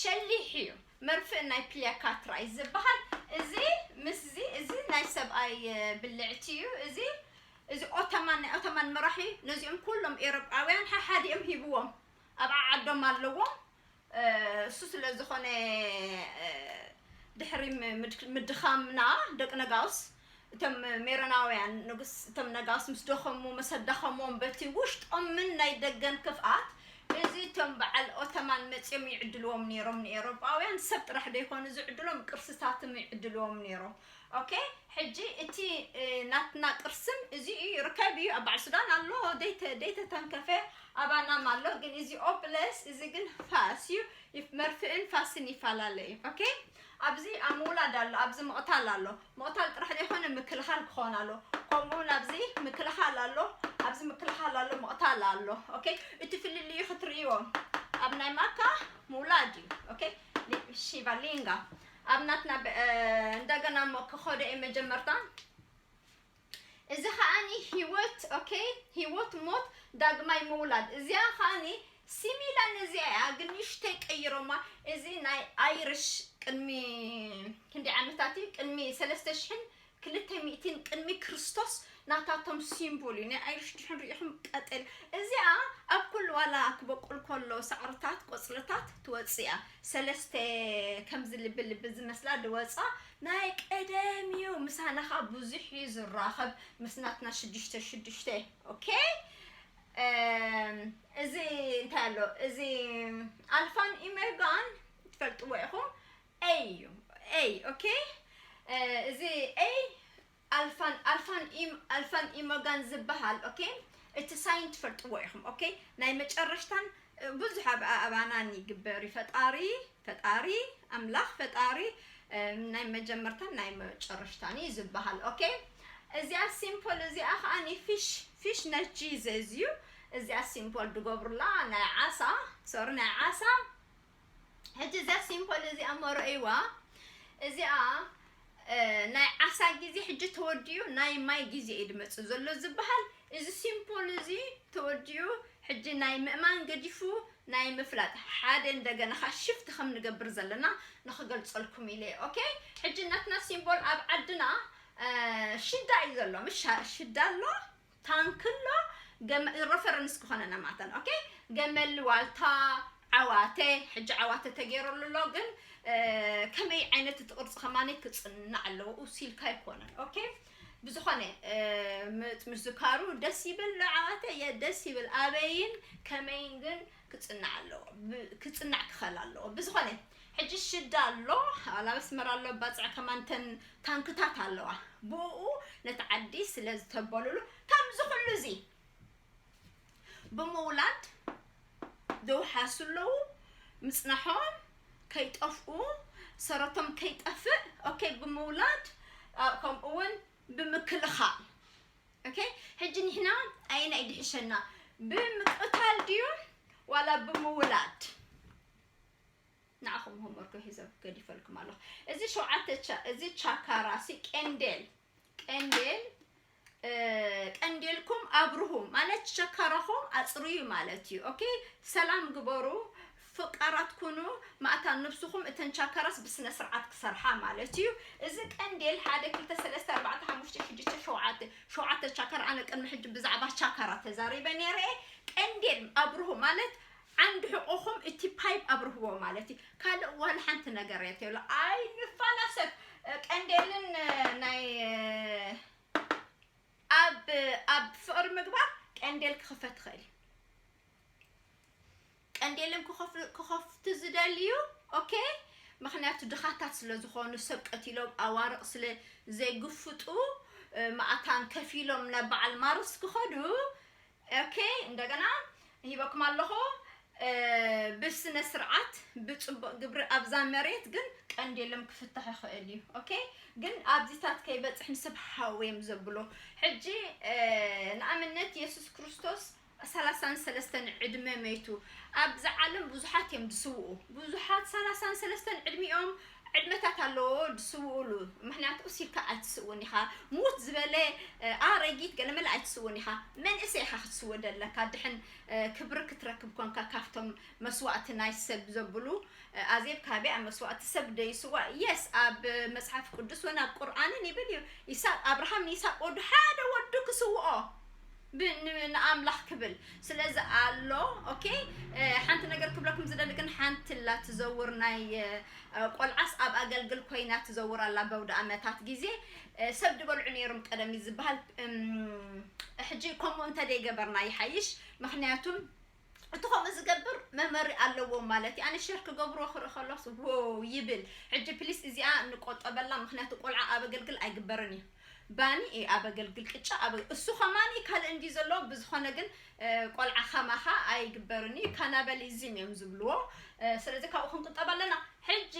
ሸሊሕ እዩ መርፍእ ናይ ፕሊያካትራ እዩ ዝበሃል እዚ ምስዚ እዚ ናይ ሰብኣይ ብልዕቲ እዩ እዚ እዚ ኦተማን ናይ ኦተማን መራሒ ነዚኦም ኩሎም ኤሮጳውያን ሓሓዲኦም ሂብዎም ኣብ ዓዓዶም ኣለዎም እሱ ስለ ዝኾነ ድሕሪ ምድኻምና ደቂ ነጋውስ እቶም ሜሮናውያን ንጉስ እቶም ነጋውስ ምስ ደኸሙ ምስ ኣዳኸሞም በቲ ውሽጦምን ናይ ደገን ክፍኣት እዚ እቶም በዓል ኦተማን መጺኦም ይዕድልዎም ነይሮም ንኤውሮጳውያን ሰብ ጥራሕ ደይኮኑ ዝዕድሎም ቅርስታትም ይዕድልዎም ነይሮም ኦኬ ሕጂ እቲ ናትና ቅርስም እዚ እዩ ይርከብ እዩ ኣብ በዓል ሱዳን ኣሎ ደይተ ደይተ ተንከፈ ኣባናም ኣሎ ግን እዚ ኦ ፕለስ እዚ ግን ፋስ እዩ ይፍ- መርፍእን ፋስን ይፈላለ እዩ ኦኬ ኣብዚ ኣብ ምውላድ ኣሎ ኣብዚ ምቕታል ኣሎ ምቕታል ጥራሕ ዘይኮነ ምክልኻል ክኾን ኣሎ ከምኡ እውን ኣብዚ ምክልኻል ኣሎ ኣብዚ ምክልኻል ኣሎ ምቕታል ኣሎ ኦኬ እቲ ፍልልዩ ክትርእይዎ ኣብ ናይ ማካ ምውላድ እዩ ኦኬ ሊ- ሺቫ ሊንጋ ኣብ ናትና ብ እንደገና እሞ ክከዶ እየ መጀመርታ እዚ ከኣኒ ሂወት ok ሂወት ሞት ዳግማይ ምውላድ እዚኣ ከኣኒ ሲሚላ ነዚኣ እያ ግን ንእሽተይ ቀይሮማ እዚ ናይ ኣይርሽ ቅድሚ ክንደይ ዓመታት እዩ ቅድሚ ሰለስተ ሽሕን ክልተ ሚእቲን ቅድሚ ክርስቶስ ናታቶም ሲምቦል እዩ ናይ ኣይሩሽ ድሕን ሪኢኹም ቀጠልያ እዚኣ ኣብ ኩሉ ዋላ ክበቁል ኮሎ ሳዕርታት ቆጽልታት ትወጽእ እያ ሰለስተ ከምዚ ልቢ ልቢ ዝመስላ ድወጻ ናይ ቀደም እዩ ምሳና ከኣ ብዙሕ እዩ ዝራኸብ ምስ ናትና ሽዱሽተ ሽዱሽተ ኦኬ እዚ እንታይ ኣሎ እዚ ኣልፋን ኢሜጋን ትፈልጥዎ ኢኹም A እዩ A okay እዚ A ኣልፋን ኣልፋን ኢ ኣልፋን ኢሞጋን ዝበሃል okay እቲ ሳይን ትፈልጥዎ ኢኹም okay ናይ መጨረሽታን ብዙሕ ኣብ ኣባናን ይግበር እዩ ፈጣሪ ፈጣሪ ኣምላኽ ፈጣሪ ናይ መጀመርታን ናይ መጨረሽታን እዩ ዝበሃል okay እዚኣ ሲምፖል እዚኣ ከዓ ኒ ፊሽ ፊሽ ናይ ቺዝ እዩ እዚኣ ሲምፖል ድገብሩላ ናይ ዓሳ ሶሪ ናይ ዓሳ ሕጂ እዚኣ ሲምፖል እዚኣ እሞ ረእይዋ እዚኣ ናይ ዓሳ ግዜ ሕጂ ተወዲኡ ናይ ማይ ግዜ እዩ ድመፅእ ዘሎ ዝበሃል እዚ ሲምፖል እዚ ተወዲኡ ሕጂ ናይ ምእማን ገዲፉ ናይ ምፍላጥ ሓደ እንደገና ኸ ሽፍት ከም ንገብር ዘለና ንክገልፀልኩም ኢለ ኦኬ ሕጂ ናትና ሲምቦል ኣብ ዓድና ሽዳ እዩ ዘሎ ምሽ ሽዳ ኣሎ ታንክሎ ገመ ረፈረንስ ክኾነና ማተን ኦኬ ገመል ዋልታ ዓዋተ ሕጂ ዓዋተ ተገይረሉ ኣሎ ግን ከመይ ዓይነት እቲ ቅርፂ ከማኒ ክፅናዕ ኣለዎ ውሲልካ ኣይኮነን ኦኬ ብዝኾነ ምዝካሩ ደስ ይብል ዓዋተ እየ ደስ ይብል ኣበይን ከመይን ግን ክጽናዕ ኣለዎ ክጽናዕ ክኸል ኣለዎ ብዝኾነ ሕጂ ሽዳ ኣሎ ኣብ ኣስመራ ኣሎ ባጽዕ ከማን ተን ታንክታት ኣለዋ ብኡ ነቲ ዓዲ ስለ ዝተበሉሉ ከምዚ ኩሉ እዚ ብምውላድ ዘውሓሱ ኣለዉ ምጽናሖም ከይጠፍኡ ሰረቶም ከይጠፍእ ኦኬ ብምውላድ ከምኡውን ብምክልኻል ኦኬ ሕጂ ንሕና ኣየናይ እዩ ድሕሸና ብምቅታል ድዩ ዋላ ብምውላድ ንዓኹም ሆምወርክ ሒዘ ገዲፈልኩም ኣለኹ እዚ ሸውዓተ እዚ ቻካራ ሲ ቀንዴል ቀንዴል ቀንዴልኩም ኣብርሁ ማለት ሸካራኹም ኣፅርዩ ማለት እዩ ኦኬ ሰላም ግበሩ ፈቃራት ኩኑ ማእታ ኑብስኹም እተን ቻከራስ ብስነ ስርዓት ክሰርሓ ማለት እዩ እዚ ቀንዴል ሓደ ክልተ ሰለስተ ኣርባዕተ ሓሙሽተ ሽዱሽተ ሸውዓተ ሸውዓተ ቻከራ ኣነ ቅድሚ ሕጂ ብዛዕባ ቻከራ ተዛሪበ ነይረ እየ ቀንዴል ኣብርሁ ማለት ዓንዲ ሕቆኹም እቲ ፓይፕ ኣብርህዎ ማለት እዩ ካልእ ዋላ ሓንቲ ነገር የትሎ ኣይንፋላሰብ ቀንዴልን ናይ ኣብ ኣብ ፍቅሪ ምግባር ቀንዴል ክኽፈት ይኽእል እዩ ቀንዴለም ክኸፍቱ ዝደልዩ ኦኬ ምክንያቱ ድኻታት ስለ ዝኾኑ ሰብ ቀቲሎም ኣዋርቕ ስለ ዘይግፍጡ ማእታን ከፊሎም ናብ በዓል ማርስ ክኸዱ ኦኬ እንደገና ሂበኩም ኣለኹ ብስነ ስርዓት ብፅቡቅ ግብሪ ኣብዛ መሬት ግን ቀንድ የለም ክፍታሕ ይኽእል እዩ ኦኬ ግን ኣብዚታት ከይበፅሕ ንስብ ሃው እዮም ዘብሎ ሕጂ ንኣብነት የሱስ ክርስቶስ ሰላሳን ሰለስተን ዕድመ መይቱ ኣብ ዝዓለም ብዙሓት እዮም ዝስውኡ ብዙሓት ሰላሳን ሰለስተን ዕድሚኦም ዕድመታት ኣለዎ ዝስውኡሉ ምክንያቱ እሲካ ኣይትስውን ኢካ ሙት ዝበለ ኣረጊት ገለመለ ኣይትስውን ኢካ መንእሰይ ኢካ ክትስወ ደለካ ድሕን ክብሪ ክትረክብ ኮንካ ካብቶም መስዋእቲ ናይ ሰብ ዘብሉ ኣዜብ ካበይ ኣብ መስዋእቲ ሰብ ደይስዋ የስ ኣብ መጽሓፍ ቅዱስ ወን ኣብ ቁርኣንን ይብል እዩ ይስቅ ኣብርሃም ንይስቅ ወዱ ሓደ ወዱ ክስውኦ ብ ን ንኣምላኽ ክብል ስለዚ ኣሎ ኦኬ ሓንቲ ነገር ክብለኩም ዝደሊ ግን ሓንቲ ኣላ ትዘውር ናይ ቆልዓስ ኣብ ኣገልግል ኮይና ትዘውር ኣላ በውድኣመታት ግዜ ሰብ ድበልዑ ነይሮም ቀደም እዩ ዝበሃል ሕጂ ከምኡ እንተደይገበርና ይሓይሽ ምክንያቱም እቲ ከምኡ ዝገብር መመሪ ኣለዎም ማለት እዩ ኣነ ሸር ክገብሮ ክርኢ ከሎስ ዎው ይብል ሕጂ ፕሊስ እዚኣ ንቆጠበላ ምክንያቱ ቆልዓ ኣብ ኣገልግል ኣይግበርን እዩ ባኒ እዩ ኣብ ኣገልግል ቅጫ ኣብ እሱ ከማኒ ካልእ እንዲ ዘለዎ ብዝኾነ ግን ቆልዓ ከማኻ ኣይግበርን እዩ ካናበሊዝም እዮም ዝብልዎ ስለዚ ካብኡ ክንቁጠብ ኣለና ሕጂ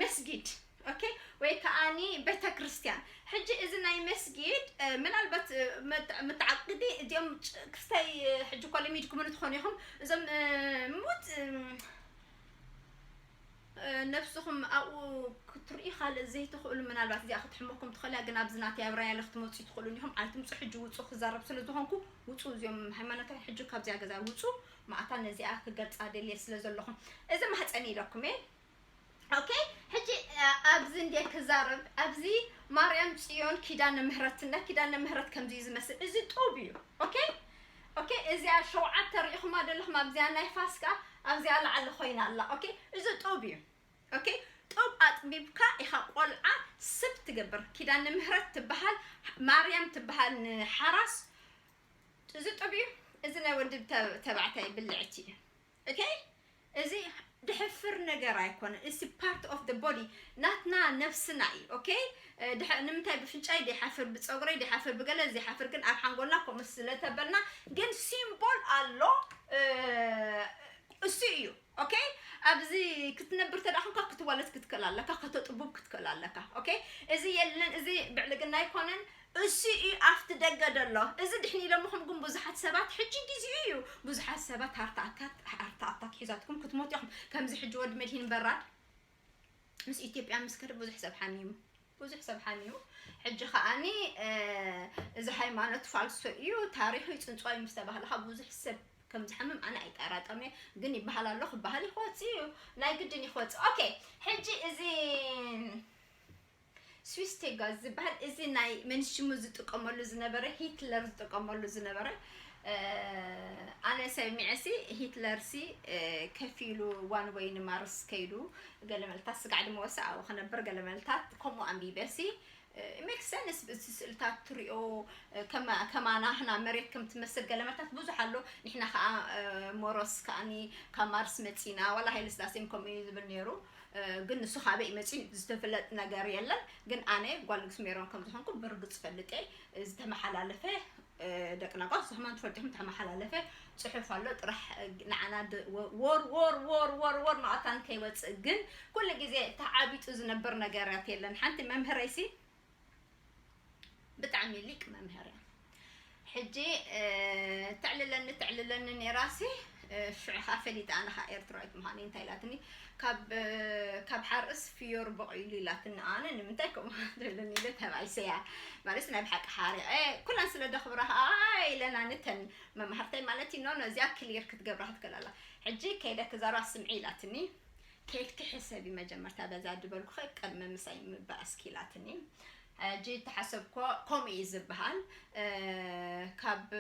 መስጊድ ኦኬ ወይ ከኣኒ ቤተክርስትያን ሕጂ እዚ ናይ መስጊድ ምናልባት መተዓቅዲ እዚኦም ክስታይ ሕጂ እኳ ለሚድኩምን ትኾኑ ኢኹም እዞም ሙት ነብስኹም ኣብኡ ክትርኢ ካልእ ዘይትኽእሉ ምናልባት እዚኣ ክትሕመኩም ትኽእላ ግን ኣብዚ ናተይ ኣብ ራያለ ክትመፁ ትኽእሉን ኢኹም ኣይትምፁ ሕጂ ውፁ ክዛረብ ስለ ዝኾንኩ ውፁ እዚኦም ሃይማኖታዊ ሕጂ ካብዚኣ ገዛ ውፁ ማእታ ነዚኣ ክገልፃ ደልየ ስለ ዘለኹም እዚ ማህፀን ኢለኩም እየ ኦኬ ሕጂ ኣብዚ እንድየ ክዛረብ ኣብዚ ማርያም ጽዮን ኪዳነ ምህረትና ኪዳነ ምህረት ከምዚ እዩ ዝመስል እዚ ጡብ እዩ ኦኬ ኦኬ እዚኣ ሸውዓተ ርኢኹማ ዘለኹም ኣብዚኣ ናይ ፋስካ ኣብዚኣ ላዕሊ ኮይና ኣላ ኦኬ እዚ ጡብ እዩ ኦኬ ጡብ ኣጥቢብካ ኢኻ ቆልዓ ስብ ትገብር ኪዳነ ምህረት ትበሃል ማርያም ትበሃል ንሓራስ እዚ ጡብ እዩ እዚ ናይ ወዲ ተባዕታይ ብልዕቲ እዩ ok እዚ ድሕፍር ነገር ኣይኮነን it's a part of the body ናትና ነብስና እዩ ok ድሕ ንምንታይ ብፍንጫይ ድይሓፍር ብጸጉረይ ድይሓፍር ብገለ ዘይሓፍር ግን ኣብ ሓንጎልና ከምኡ ስለ ተበልና ግን ሲምቦል ኣሎ እሱ እዩ ኦኬ ኣብዚ ክትነብር ተዳ ኮንካ ክትወለት ክትክእል ኣለካ ከተጥቡብ ክትክእል ኣለካ ኦኬ እዚ የለን እዚ ብዕልግና ኣይኮነን እሱ እዩ ኣፍቲ ደገ ደሎ እዚ ድሕን ኢሎምኹም ግን ቡዙሓት ሰባት ሕጂ ጊዚኡ እዩ ቡዙሓት ሰባት ሃርታኣታት ሃርታኣታት ሒዛትኩም ክትሞቱ ኢኹም ከምዚ ሕጂ ወዲ መድሂን በራድ ምስ ኢትዮጵያ ምስ ከደ ቡዙሕ ሰብ ሓሚሙ ቡዙሕ ሰብ ሓሚሙ ሕጂ ከኣኒ እዚ ሃይማኖት ፋልሶ እዩ ታሪኹ ይጽንጽዋ እዩ ምስ ተባህለ ካብ ቡዙሕ ሰብ ከም ዝሓምም ኣነ ኣይጠራጠም እየ ግን ይበሃል ኣሎ ክበሃል ይክወጽእ እዩ ናይ ግድን ይክወጽእ ኦኬ ሕጂ እዚ ስዊስ ቴጋዝ ዝብሃል እዚ ናይ መን ሽሙ ዝጥቀመሉ ዝነበረ ሂትለር ዝጥቀመሉ ዝነበረ ኣነ ሰሚዐ ሲ ሂትለር ሲ ከፊሉ ዋን ወይ ንማርስ ከይዱ ገለ መልታት ስጋዕ ድማ ወሰ ኣብኡ ክነብር ገለ መልታት ከምኡ ኣንቢበ ሲ ሜክ ሰንስ እዚ ስእልታት ትሪኦ ከማና ህና መሬት ከም ትመስል ገለ መልታት ብዙሕ ኣሎ ንሕና ከዓ ሞሮስ ከዓኒ ካብ ማርስ መፂና ዋላ ሃይለ ስላሴም ከምኡ እዩ ዝብል ነይሩ ግን ንሱ ካበይ መጺኡ ዝተፍለጥ ነገር የለን ግን ኣነ ጓል ንግስ ሜሮን ከም ዝኾንኩ ብርግጽ ፈልጤ ዝተመሓላለፈ ደቂ ናጓት ዝኸማን ትፈልጥኹም ተመሓላለፈ ጽሑፍ ኣሎ ጥራሕ ንዓና ወር ወር ወር ወር ወር ማእታን ከይወጽእ ግን ኩሉ ግዜ ተዓቢጡ ዝነብር ነገራት የለን ሓንቲ መምህረይሲ ብጣዕሚ ሊቅ መምህር እያ ሕጂ ተዕልለኒ ተዕልለኒ ነይራሲ ሽዑ ከዓ ፈሊጣ ኣነ ከዓ ኤርትራዊት ምዃነይ እንታይ ኢላትኒ ካብ ሓርስ ፍዮር በቂሉ ኢላትኒ ኣነ ንምንታይ ከምኡ ትብለኒ ኢለ ተባይሰያ ማለት ናይ ብሓቂ ሓሪቐ ኩለን ስለ ደኽብራ ከዓ ኢለና ንተን መማህርተይ ማለት እዩ ኖ እዚኣ ክሊር ክትገብራ ክትከላላ ሕጂ ከይደ ክዛራ ስምዒ ኢላትኒ ኬድኪ ሕሰቢ መጀመርታ በዛ ድበልኩኺ ቅድሚ ምሳይ ምባኣስኪ ኢላትኒ ሕጂ ተሓሰብኮ ከምኡ እዩ ዝባሃል ካብ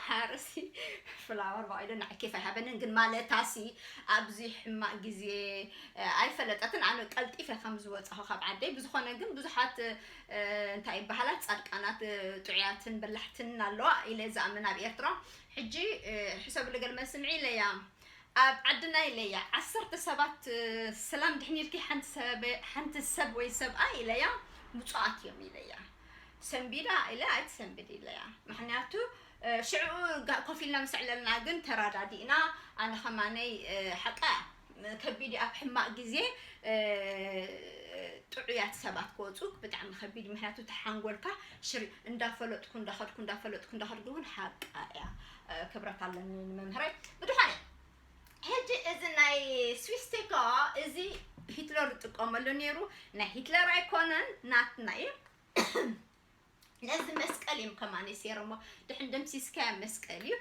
ሓርሲ ፍላወር ባዒሉ ንዓይ ኬፍ ኣይሃበንን ግን ማለታሲ ኣብዚ ሕማቅ ግዜ ኣይፈለጠትን ኣነ ቀልጢፈ ከም ዝወጻኹ ካብ ዓደይ ብዝኾነ ግን ብዙሓት እንታይ ይባሃላ ጻድቃናት ጥዑያትን በላሕትን ኣለዋ ኢለ ዝኣምን ኣብ ኤርትራ ሕጂ ሕሰብሉ ገለ መልሲ ምዒለያ ኣብ ዓድና ኢለያ ዓሰርተ ሰባት ሰላም ድሕን ኢልኪ ሓንቲ ሰበ ሓንቲ ሰብ ወይ ሰብኣይ ኢለያ ብጹኣት እዮም ኢለያ ሰንቢዳ ኢለ ኣይትሰንብድ ኢለያ ምክንያቱ ሽዕኡ ኮፍ ኢልና ምስ ዕለልና ግን ተራዳዲእና ኣነ ከማነይ ሓቃ ከቢድ እዩ ኣብ ሕማቅ ግዜ ጥዑያት ሰባት ክወፁ ብጣዕሚ ከቢድ ምክንያቱ ተሓንጎልካ ሽር እንዳፈለጥኩ እንዳኸድኩ እንዳፈለጥኩ እንዳኸድኩ ግን ሓቃ እያ ክብረት ኣለኒ ንመምህረይ ብድኾነ ሕጂ እዚ ናይ ስዊስቴካ እዚ ሂትለር ዝጥቀመሉ ነይሩ ናይ ሂትለር ኣይኮነን ናትና እዩ ነዚ መስቀል እዮም ከማኒ ሴሮሞ ድሕን ደምሲስካያ መስቀል እዩ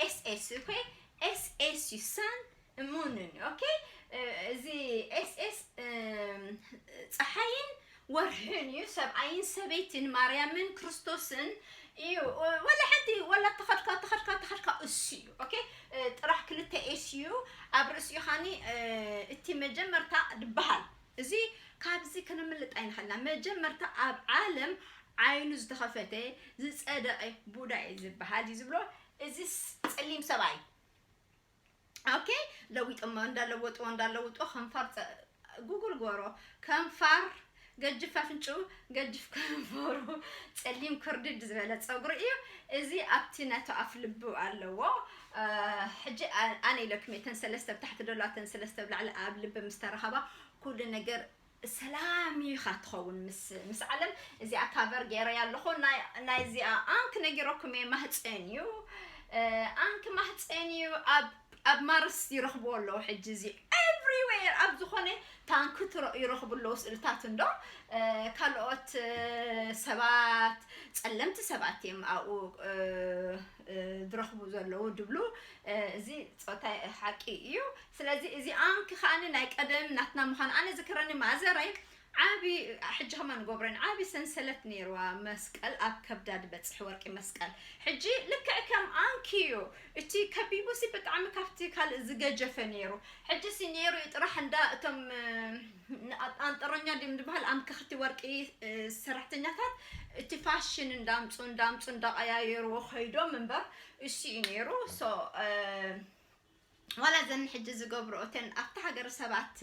ኤስኤስ ኮይ ኤስኤስ እዩ ሳን እመኑኒ ኦኬ እዚ ኤስ ኤስ ፀሓይን ወርሕን እዩ ሰብኣይን ሰበይትን ማርያምን ክርስቶስን እዩ ወላ ሓንቲ ወላ ተኸድካ ተኸድካ ተኸድካ እሱ እዩ ኦኬ እ፣ ጥራሕ ክልተ ኤስ እዩ ኣብ ርእሲኡ ኻኒ እ፣ እቲ መጀመርታ ድበሃል እዚ ካብዚ ክንምልጥ ኣይንኽእልና መጀመርታ ኣብ ዓለም ዓይኑ ዝተኸፈተ ዝፀደቐ ቡዳ እዩ ዝበሃል እዩ ዝብሎ እዚ ስ- ፀሊም ሰብኣይ ኦኬ ለዊጦሞ እንዳ ለወጥዎ እንዳ ለውጥዎ ከንፋር ፀ ጉጉል ጎሮ ከንፋር ገጅፍ ኣፍንጭኡ ገጅፍ ከንፈሩ ፀሊም ክርድድ ዝበለ ፀጉሪ እዩ እዚ ኣብቲ ነቶ ኣፍ ልቡ ኣለዎ ሕጂ ኣነ ኢለክሜ ተን ሰለስተ ብታሕቲ ደሎ ተን ሰለስተ ብላዕሊ ኣብ ልቢ ምስ ተረኸባ ኩሉ ነገር ሰላም እዩ ኢካ ትከውን ምስ ምስ ዓለም እዚኣ ካቨር ገይረያ ኣለኩ ናይ ናይ እዚኣ ኣንክ ነጊረኩም እየ ማህፀን እዩ ኣንክ ማህፀን እዩ ኣብ ኣብ ማርስ ይረክብዎ ኣለዉ ሕጂ እዚ ኤቭሪዌር ኣብ ዝኾነ ታንክ ትረ- ይረክቡ ኣለዉ ስእልታት እንዶ እ፣ ካልኦት እ፣ ሰባት ጸለምቲ ሰባት እዮም ኣብኡ እ፣ ዝረኽቡ ዘለዉ ድብሉ እዚ ጾታይ ሓቂ እዩ ስለዚ እዚ ኣንክ ከኣኒ ናይ ቀደም ናትና ምዃን ኣነ ዝክረኒ ማዘረይ ዓቢ ሕጂ ከማ ንጎብረን ዓቢ ሰንሰለት ነይርዋ መስቀል ኣብ ከብዳ ድበጽሕ ወርቂ መስቀል ሕጂ ልክዕ ከም ኣንክ እዩ እቲ ከቢቡሲ ብጣዕሚ ካብቲ ካልእ ዝገጀፈ ነይሩ ሕጂሲ ነይሩ እዩ ጥራሕ እንዳ እቶም ኣንጠሮኛ ድም ድበሃል ኣምከኽቲ ወርቂ ሰራሕተኛታት እቲ ፋሽን እንዳምፁ እንዳምፁ እንዳቀያየርዎ ከይዶም እምበር እሱ እዩ ነይሩ ዋላ ዘን ሕጂ ዝገብርኦ እተን ኣብቲ ሃገር ሰባት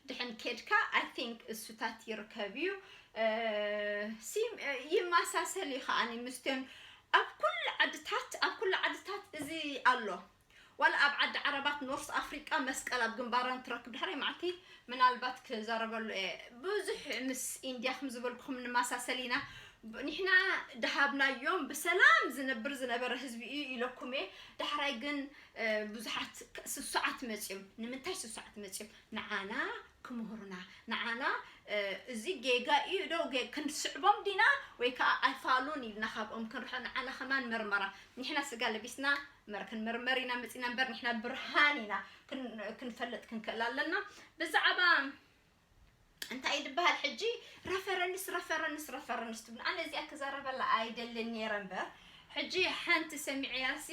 ድሕን ኬድካ ኣይ ቲንክ እሱታት ይርከብ እዩ ይመሳሰል እዩ ከዓኒ ምስትዮን ኣብ ኩሉ ዓድታት ኣብ ኩሉ ዓድታት እዚ ኣሎ ዋላ ኣብ ዓዲ ዓረባት ኖርስ ኣፍሪቃ መስቀል ኣብ ግንባረን ትረክብ ድሕሪ መዓልቲ ምናልባት ክዛረበሉ እየ ብዙሕ ምስ ኢንድያ ከም ዝበልኩኹም ንማሳሰል ኢና ኒሕና ድሃብናዮም ብሰላም ዝነብር ዝነበረ ህዝቢ እዩ ኢለኩም እየ ዳሕራይ ግን ብዙሓት ስሱዓት መጽዮም ንምንታይ ስሱዓት መጽዮም ንዓና ክምህሩና ንዓና እዚ ጌጋ እዩ ዶ ክንስዕቦም ዲና ወይ ከዓ ኣይፋሉን ኢልና ካብኦም ክንርሖ ንዓና ከማን መርመራ ኒሕና ስጋ ለቢስና መር ክንምርመር ኢና መጺና እምበር ንሕና ብርሃን ኢና ክንፈልጥ ክንክእል ኣለና ብዛዕባ እንታይ እዩ ዝበሃል ሕጂ ረፈረንስ ረፈረንስ ረፈረንስ ትብል ኣነ እዚኣ ክዛረበላ ኣይደልን ነይረ እምበር ሕጂ ሓንቲ ሰሚዐያሲ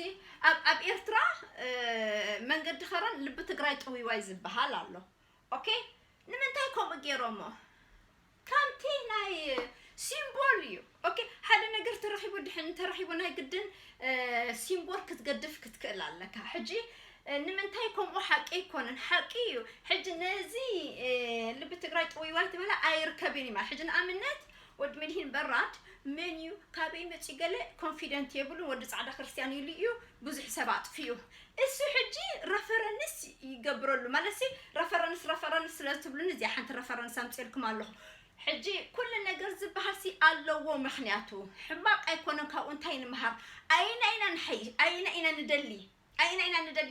ኣብ ኣብ ኤርትራ መንገዲ ኸረን ልቢ ትግራይ ጥውይዋይ ዝበሃል ኣሎ ኦኬ ንምንታይ ከምኡ ገይሮሞ ከምቲ ናይ ሲምቦል እዩ ኦኬ ሓደ ነገር ተረኺቡ ድሕን እንተረኺቡ ናይ ግድን ሲምቦል ክትገድፍ ክትክእል ኣለካ ሕጂ ንምንታይ ከምኡ ሓቂ ኣይኮነን ሓቂ እዩ ሕጂ ነዚ ልቢ ትግራይ ጥውይዋይ ትበላ ኣይርከብን እዩ ሕጂ ንኣብነት ወዲ መድሂን በራድ መን እዩ ካበይ መፂ ገለ ኮንፊደንት የብሉ ወዲ ፃዕዳ ክርስትያን ኢሉ እዩ ብዙሕ ሰብ ኣጥፊኡ እሱ ሕጂ ረፈረንስ ይገብረሉ ማለትሲ ረፈረንስ ረፈረንስ ስለ ትብሉኒ እዚኣ ሓንቲ ረፈረንስ ኣምጺኤልኩም ኣለኹ ሕጂ ኩሉ ነገር ዝበሃልሲ ኣለዎ ምክንያቱ ሕማቅ ኣይኮነን ካብኡ እንታይ ንምሃር ኣየና ኢና ንሓይሽ ኣየና ኢና ንደሊ ኣየና ኢና ንደሊ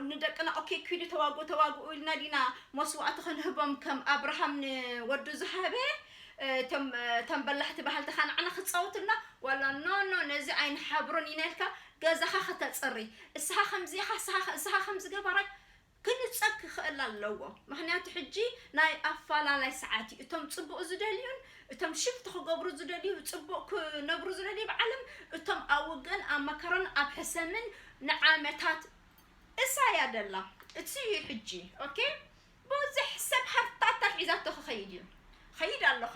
ንደቅና ኦኬ ኪዱ ተዋግኡ ተዋግኡ ኢልና ዲና መስዋእቲ ክንህቦም ከም ኣብርሃም ንወዱ ዝሃበ እቶም ተንበላሕቲ ባህልቲ ካንዓና ክፃወቱልና ዋላ ኖ ኖ ነዚ ኣይንሓብሮን ኢና ኢልካ ገዛኻ ከተጽሪ እስኻ ከምዚ ኢኻ እስኻ እስኻ ከምዚ ገባራይ ክንጸግ ክኽእል ኣለዎ ምኽንያቱ ሕጂ ናይ ኣፋላላይ ሰዓት እዩ እቶም ጽቡቅ ዝደልዩን እቶም ሽፍት ክገብሩ ዝደልዩ ጽቡቅ ክነብሩ ዝደልዩ ኣብ ዓለም እቶም ኣብ ውግእን ኣብ መከራን ኣብ ሕሰምን ንዓመታት እሳ እያ ደላ እቲ እዩ ሕጂ ኦኬ ብዙሕ ሰብ ሃርታታ ሒዛቶ ክኸይድ እዩ ኸይድ ኣለኻ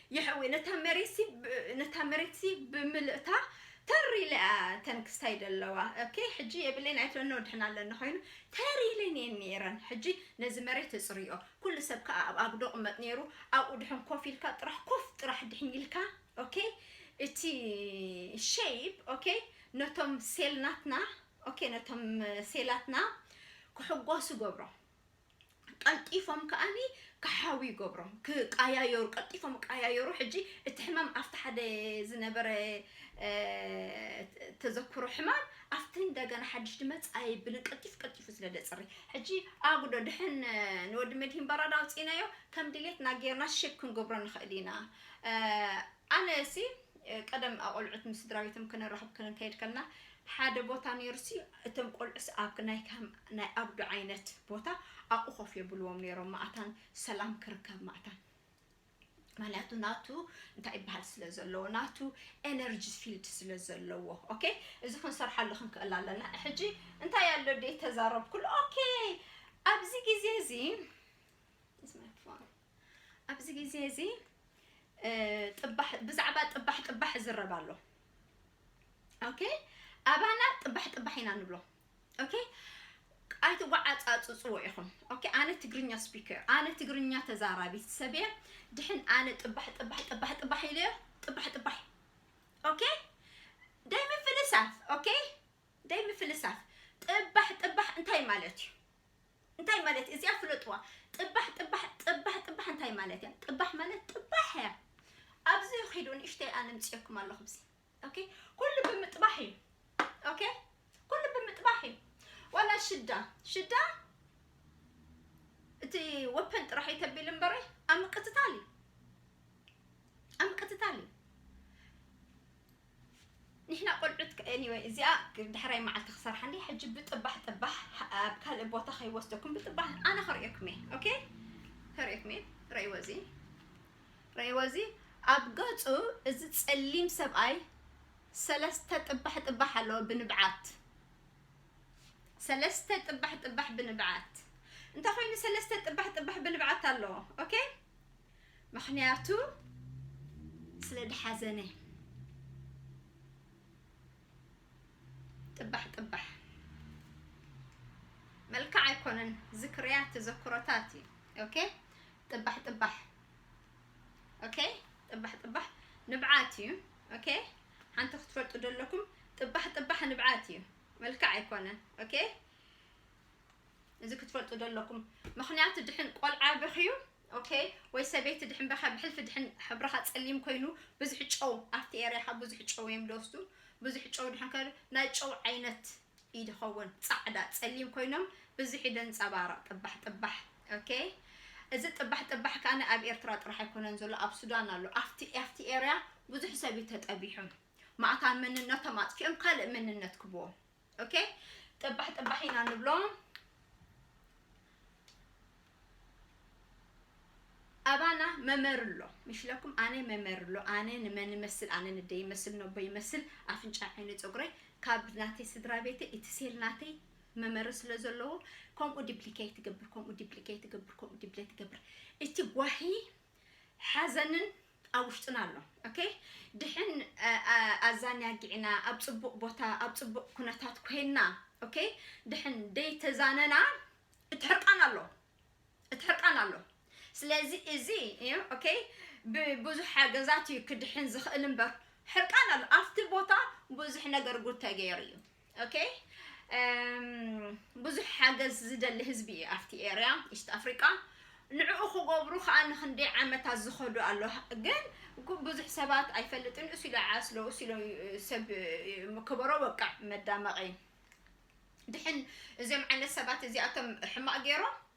የሕዊ ነታ መሬትሲ ነታ መሬትሲ ብምልእታ ተር ኢለ እያ እተን ክስታይ ዘለዋ ኦኬ ሕጂ የብለይን ኣይትብለኒ ወድሕና ኣለኒ ኮይኑ ተር ኢለን እየን ነይረን ሕጂ ነዚ መሬት እጽርዮ ኩሉ ሰብ ከዓ ኣብ ኣጉዶ ቅመጥ ነይሩ ኣብኡ ድሕን ኮፍ ኢልካ ጥራሕ ኮፍ ጥራሕ ድሕን ኢልካ ኦኬ እቲ ሸይፕ ኦኬ ነቶም ሴልናትና ኦኬ ነቶም ሴላትና ክሕጎሱ ገብሮም ቀልጢፎም ከኣኒ ክሓውዩ ይገብሮም ክቃያየሩ ቀልጢፎም ቃያየሩ ሕጂ እቲ ሕማም ኣብቲ ሓደ ዝነበረ ተዘክሮ ሕማም ኣብቲ እንደገና ሓድሽ ድመፅ ኣይብልን ቀልጢፍ ቀልጢፉ ስለ ደፅሪ ሕጂ ኣጉዶ ድሕን ንወዲ መድሂን በራዳ ኣውፂእናዮ ከም ድሌትና ጌርና ሼፕ ክንገብሮ ንኽእል ኢና ኣነ ሲ ቀደም ኣቆልዑት ምስ ስድራቤቶም ክነራክብ ክንከይድ ከለና ሓደ ቦታ ነይሩ ሲ እቶም ቆልዑስ ኣብ ናይ ከም ናይ ኣብዱ ዓይነት ቦታ ኣብኡ ኮፍ የብልዎም ነይሮም ማእታን ሰላም ክርከብ ማእታን ምክንያቱ ናቱ እንታይ ይበሃል ስለ ዘለዎ ናቱ ኤነርጂ ፊልድ ስለ ዘለዎ ኦኬ እዚ ክንሰርሓሉ ክንክእል ኣለና ሕጂ እንታይ ኣሎ ደ ተዛረብኩሉ ኦኬ ኣብዚ ግዜ እዚ ኣብዚ ግዜ እዚ ጥባሕ ብዛዕባ ጥባሕ ጥባሕ ዝረብ ኣሎ ኦኬ ኣባና ጥባሕ ጥባሕ ኢና ንብሎ ኦኬ ኣይትጓዓጻጽጽዎ ኢኹም ኦኬ ኣነ ትግርኛ ስፒከር ኣነ ትግርኛ ተዛራቢት ሰብየ ድሕን ኣነ ጥባሕ ጥባሕ ጥባሕ ጥባሕ ኢለዮ ጥባሕ ጥባሕ ኦኬ ደይ ምፍልሳፍ ኦኬ ደይ ምፍልሳፍ ጥባሕ ጥባሕ እንታይ ማለት እዩ እንታይ ማለት እዩ እዚኣ ፍለጥዋ ጥባሕ ጥባሕ ጥባሕ ጥባሕ እንታይ ማለት እያ ጥባሕ ማለት ጥባሕ እያ ኣብዚ ኺዱ ንእሽተይ ኣነ ምፅኦኩም ኣለኹ ብዚ ኦኬ ኩሉ ብምጥባሕ እዩ ኦኬ ኩሉ ብምጥባሕ እዩ ዋላ ሽዳ ሽዳ እቲ ወፐን ጥራሕ እዩ ተቢል እምበረ ኣብ ምቅትታል እዩ ኣብ ምቅትታል እዩ ንሕና ቆልዑት ከ Anyway እዚኣ ዳሕራይ መዓልቲ ክሰርሓ እንድየ ሕጂ ብጥባሕ ጥባሕ ኣብ ካልእ ቦታ ከይወስደኩም ብጥባሕ ኣነ ከርእየኩም እየ ኦኬ ከርእየኩም እየ ረእይዎ እዚ ረእይዎ እዚ ኣብ ገጹ እዚ ጸሊም ሰብኣይ ሰለስተ ጥባሕ ጥባሕ ኣለዎ ብንብዓት ሰለስተ ጥባሕ ጥባሕ ብንብዓት እንተ ኮይኑ ሰለስተ ጥባሕ ጥባሕ ብንብዓት ኣለዎ ኦኬ ምክንያቱ ስለ ድሓዘነ ጥባሕ ጥባሕ መልክዕ ኣይኮነን ዝክርያት ተዘክሮታት እዩ ኦኬ ጥባሕ ጥባሕ ኦኬ ጥባሕ ጥባሕ ንብዓት እዩ ኦኬ ሓንቲ ክትፈልጡ ዘለኩም ጥባሕ ጥባሕ ንብዓት እዩ መልክዕ ኣይኮነን ኦኬ እዚ ክትፈልጡ ዶ ኣለኩም ምክንያቱ ድሕን ቆልዓ በክዩ ኦኬ ወይ ሰበይቲ ድሕን በካ ብሕልፊ ድሕን ሕብርካ ጸሊም ኮይኑ ብዙሕ ጨው ኣብቲ ኤርያካ ብዙሕ ጨው እዮም ደወስዱ ብዙሕ ጨው ድሕን ከ ናይ ጨው ዓይነት እዩ ድኸውን ጻዕዳ ጸሊም ኮይኖም ብዙሕ እዩ ደንጸባረቕ ጥባሕ ጥባሕ ኦኬ እዚ ጥባሕ ጥባሕ ካነ ኣብ ኤርትራ ጥራሕ ኣይኮነን ዘሎ ኣብ ሱዳን ኣሎ ኣብቲ ኣብቲ ኤርያ ብዙሕ ሰብ ተጠቢሑ ማእታ መንነቶም ኣጥፊኦም ካልእ መንነት ክብዎም ኦኬ ጥባሕ ጥባሕ ኢና ንብሎ ኣባና መመርሎ ምሽለኩም ኣነ መመርሎ ኣነ ንመን ይመስል ኣነ ንደ ይመስል ነቦ ይመስል ኣፍንጫ ዓይኒ ፀጉረይ ካብ ናተይ ስድራ ቤተ እቲ ሴል ናተይ መመሪ ስለ ዘለዎ ከምኡ ዲፕሊኬት ትገብር ከምኡ ዲፕሊኬት ትገብር ከምኡ ዲፕሊኬት ትገብር እቲ ጓሂ ሓዘንን ኣብ ውሽጥና ኣሎ ኦኬ ድሕን ኣዛኛጊዕና ኣብ ፅቡቅ ቦታ ኣብ ፅቡቅ ኩነታት ኮይና ኦኬ ድሕን ደይ ተዛነና እቲ ሕርቃን ኣሎ እቲ ሕርቃን ኣሎ ስለዚ እዚ እዩ ኦኬ ብብዙሕ ሓገዛት እዩ ክድሕን ዝኽእል እምበር ሕርቃን ኣሎ ኣብቲ ቦታ ብዙሕ ነገር ጉድ ተገይሩ እዩ ኦኬ ብዙሕ ሓገዝ ዝደሊ ህዝቢ እዩ ኣብቲ ኤርያ ኢስት ኣፍሪቃ ንዕኡ ክገብሩ ከዓ ንክንደይ ዓመታት ዝኸዱ ኣሎ ግን ብዙሕ ሰባት ኣይፈልጥን እሱ ኢለ ዓስሎ እሱ ኢለ ሰብ ክበሮ በቃ መዳመቂ ድሕን እዚኦም ዓይነት ሰባት እዚኣቶም ሕማቅ ገይሮም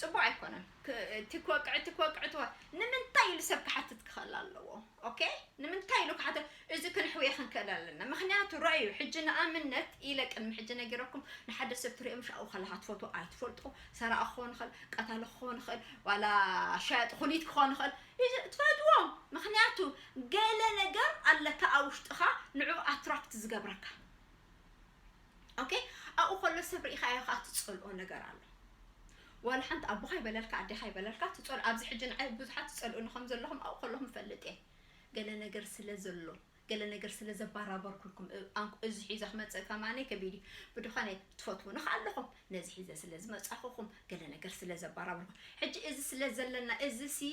ፅቡቅ ኣይኮነን እቲ ክወቅዕ እቲ ክወቅዕ እቲ ንምንታይ ኢሉ ሰብ ክሓትት ክኽእል ኣለዎ ኦኬ ንምንታይ ኢሉ ክሓትት እዚ ክንሕውየ ክንክእል ኣለና ምክንያቱ ረኣዩ ሕጂ ንኣብነት ኢለ ቅድሚ ሕጂ ነጊረኩም ንሓደ ሰብ ትሪኦ ምሽ ኣብኡ ከለካ ትፈትዎ ኣይትፈልጦ ሰራቂ ክኾን ይኽእል ቀታሊ ክኾን ይኽእል ዋላ ሸያጢ ኩሊት ክኾን ይኽእል ትፈትዎ ምክንያቱ ገለ ነገር ኣለካ ኣብ ውሽጥኻ ንዕኡ ኣትራክት ዝገብረካ ኦኬ ኣብኡ ከሎ ሰብ ርኢኻዮ ከዓ ትፀልኦ ነገር ኣሎ ዋላ ሓንቲ ኣቦኻ ይበለልካ ኣዴኻ ይበለልካ ትፀልኦ ኣብዚ ሕጂ ንዓይ ብዙሓት ትፀልኡኒ ከም ዘለኹም ኣብኡ ከለኹም ፈልጥ እየ ገለ ነገር ስለ ዘሎ ገለ ነገር ስለ ዘባራበርኩልኩም እዚ ሒዘ ክመፅእ ከማኒ ከቢድ እዩ ብድኾነ ትፈትውኒ ከዓ ኣለኹም ነዚ ሒዘ ስለ ዝመፃኹኹም ገለ ነገር ስለ ዘባራበርኩም ሕጂ እዚ ስለ ዘለና እዚ ሲ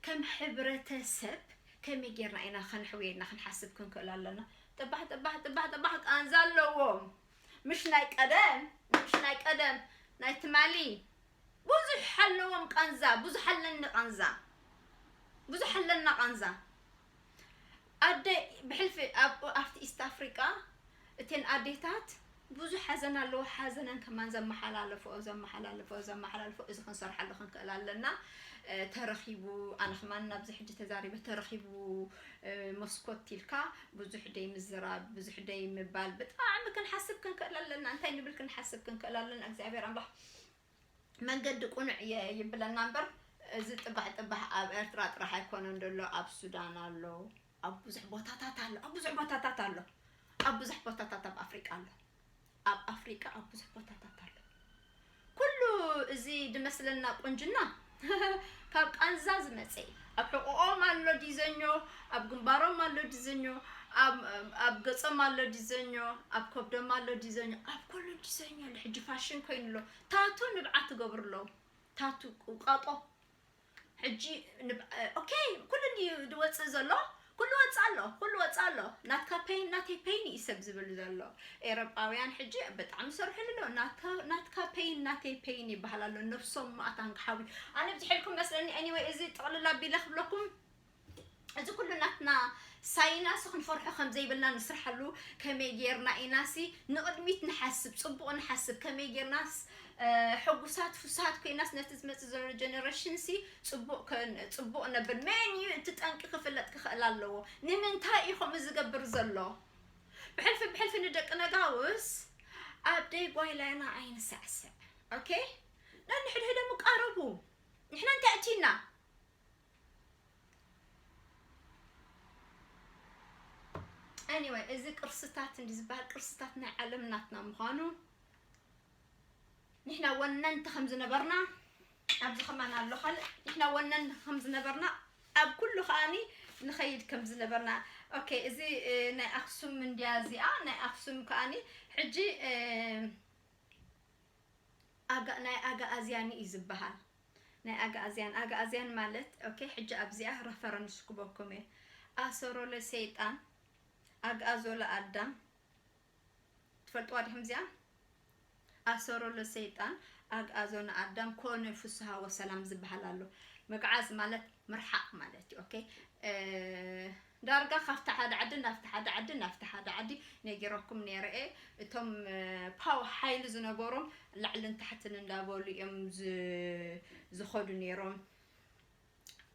ከም ሕብረተሰብ ከመይ ጌርና ኢና ከነሕውየና ክንሓስብ ክንክእል ኣለና ጥባሕ ጥባሕ ጥባሕ ጥባሕ ቃንዛ ኣለዎም ምሽ ናይ ቀደም ምሽ ናይ ቀደም ናይ ትማሊ ብዙሕ ኣለዎም ቃንዛ ብዙሕ ኣለኒ ቃንዛ ብዙሕ ኣለና ቃንዛ ኣደ ብሕልፊ ኣብቲ ኢስት ኣፍሪቃ እተን ኣዴታት ብዙሕ ሓዘን ኣለዎ ሓዘነን ከማን ዘመሓላለፈኦ ዘመሓላለፈኦ ዘመሓላልፈኦ እዚ ክንሰርሓሉ ክንክእል ኣለና ተረኺቡ ኣነ ከማን ናብዚ ሕጂ ተዛሪበ ተረኺቡ መስኮት ኢልካ ብዙሕ ደይ ምዝራብ ብዙሕ ደይ ምባል ብጣዕሚ ክንሓስብ ክንክእል ኣለና እንታይ ንብል ክንሓስብ ክንክእል ኣለና እግዚኣብሔር ኣምላኽ መንገዲ ቁኑዕ እየ ይብለና እምበር እዚ ጥባሕ ጥባሕ ኣብ ኤርትራ ጥራሕ ኣይኮነን ደሎ ኣብ ሱዳን ኣሎ ኣብ ብዙሕ ቦታታት ኣሎ ኣብ ብዙሕ ቦታታት ኣሎ ኣብ ብዙሕ ቦታታት ኣብ ኣፍሪቃ ኣሎ ኣብ ኣፍሪቃ ኣብ ብዙሕ ቦታታት ኣሎ ኩሉ እዚ ድመስለና ቁንጅና ካብ ቃንዛ ዝመጸ እዩ ኣብ ሕቆኦም ኣሎ ዲዘኞ ኣብ ግንባሮም ኣሎ ዲዘኞ ኣብ ገጾም ኣሎ ዲዘኞ ኣብ ከብዶም ኣሎ ዲዘኞ ኣብ ኩሉ ዲዘኞ ኣሎ ሕጂ ፋሽን ኮይኑ ኣሎ ታቱ ንብዓት ይገብሩ ኣለዉ ታቱ ቀጦ ሕጂ ኦኬ ኩሉ ድዩ ዝወጽእ ዘሎ ኩሉ ወጻእ ኣሎ ኩሉ ወጻእ ኣሎ ናትካ ፐይን ናተይ ፐይን ኢዩ ሰብ ዝብል ዘሎ ኤረጳውያን ሕጂ ብጣዕሚ ሰርሑሉ ኣሎ ናትካ ናትካ ፐይን ናተይ ፐይን ይባሃል ኣሎ ነብሶም ማኣት ኣንቅሓዊ ኣነ ብዝሕልኩም መስለኒ ኤኒወይ እዚ ጥቅልል ኣቢለ ክብለኩም እዚ ኩሉ ናትና ሳይናሲ ክንፈርሖ ከም ዘይብልና ንስርሓሉ ከመይ ጌርና ኢናሲ ንቕድሚት ንሓስብ ጽቡቕ ንሓስብ ከመይ ጌርናስ ሕጉሳት ፍሱሃት ኮይናስ ነቲ ዝመጽእ ዘሎ ጀነሬሽንሲ ጽቡቅ ክእን ጽቡቅ ነብን መን እዩ እቲ ጠንቂ ክፍለጥ ክኽእል ኣለዎ ንምንታይ እዩ ከምኡ ዝገብር ዘሎ ብሕልፊ ብሕልፊ ንደቂ ነጋውስ ኣብ ደይ ጓይላና ኣይንሳዕስዕ ኦኬ ነንሕድሕዶም ይቃረቡ ንሕና እንታይ እቲና anyway እዚ ቅርስታት እንዲ ዝበሃል ቅርስታት ናይ ዓለም ናትና ምዃኑ ንሕና ወነንቲ ከም ዝነበርና ኣብዚ ከማን ኣሎ ካልእ ንሕና ወነንቲ ከም ዝነበርና ኣብ ኩሉ ከኣኒ ንኸይድ ከም ዝነበርና ኦኬ እዚ ናይ ኣክሱም እንድያ እዚኣ ናይ ኣክሱም ከኣኒ ሕጂ ናይ ኣጋኣዝያን እዩ ዝበሃል ናይ ኣጋኣዝያን ኣጋኣዝያን ማለት ኦኬ ሕጂ ኣብዚኣ ረፈረንስ ክበኩም እየ ኣሰሮለ ሰይጣን ኣግኣዞለ ኣዳም ትፈልጥዋ ዲኩም እዚኣ ኣሰሮ ለሰይጣን ኣግኣዞ ንኣዳም ኮነ ፍስሃ ወሰላም ዝበሃል ኣሎ ምግዓዝ ማለት ምርሓቅ ማለት እዩ ኦኬ ዳርጋ ካብቲ ሓደ ዓዲ ናብቲ ሓደ ዓዲ ናብቲ ሓደ ዓዲ ነጊረኩም ነይረ እየ እቶም ፓው ሓይሊ ዝነበሮም ላዕልን ታሕትን እንዳበሉ እዮም ዝኸዱ ነይሮም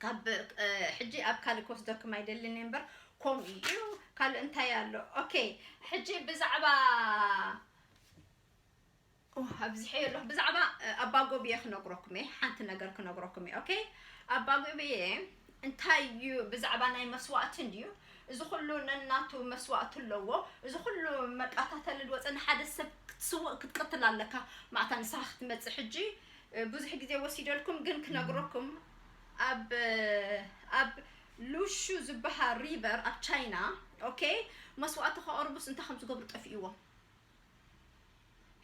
ካብ ሕጂ ኣብ ካልእ ክወስደኩም ኣይደልን እየ እምበር ከምኡ እዩ ካልእ እንታይ ኣሎ ኦኬ ሕጂ ብዛዕባ ኣብዚሐ የሎ ብዛዕባ ኣባጎብየ ክነግረኩም እየ ሓንቲ ነገር ክነግረኩም እየ ኦኬ ኣባጎብየ እንታይ እዩ ብዛዕባ ናይ መስዋእቲ እንድዩ እዚ ኩሉ ነናቱ መስዋእቲ ኣለዎ እዚ ኩሉ መቃታተሊ ዝወፀ ንሓደ ሰብ ክትስውእ ክትቅትል ኣለካ ማዕታ ንስኻ ክትመፅእ ሕጂ ብዙሕ ግዜ ወሲደልኩም ግን ክነግረኩም ኣብ ኣብ ሉሹ ዝባሃል ሪቨር ኣብ ቻይና ኦኬ መስዋእቲ ከቅርቡስ እንታይ ከም ዝገብሩ ጠፊእዎም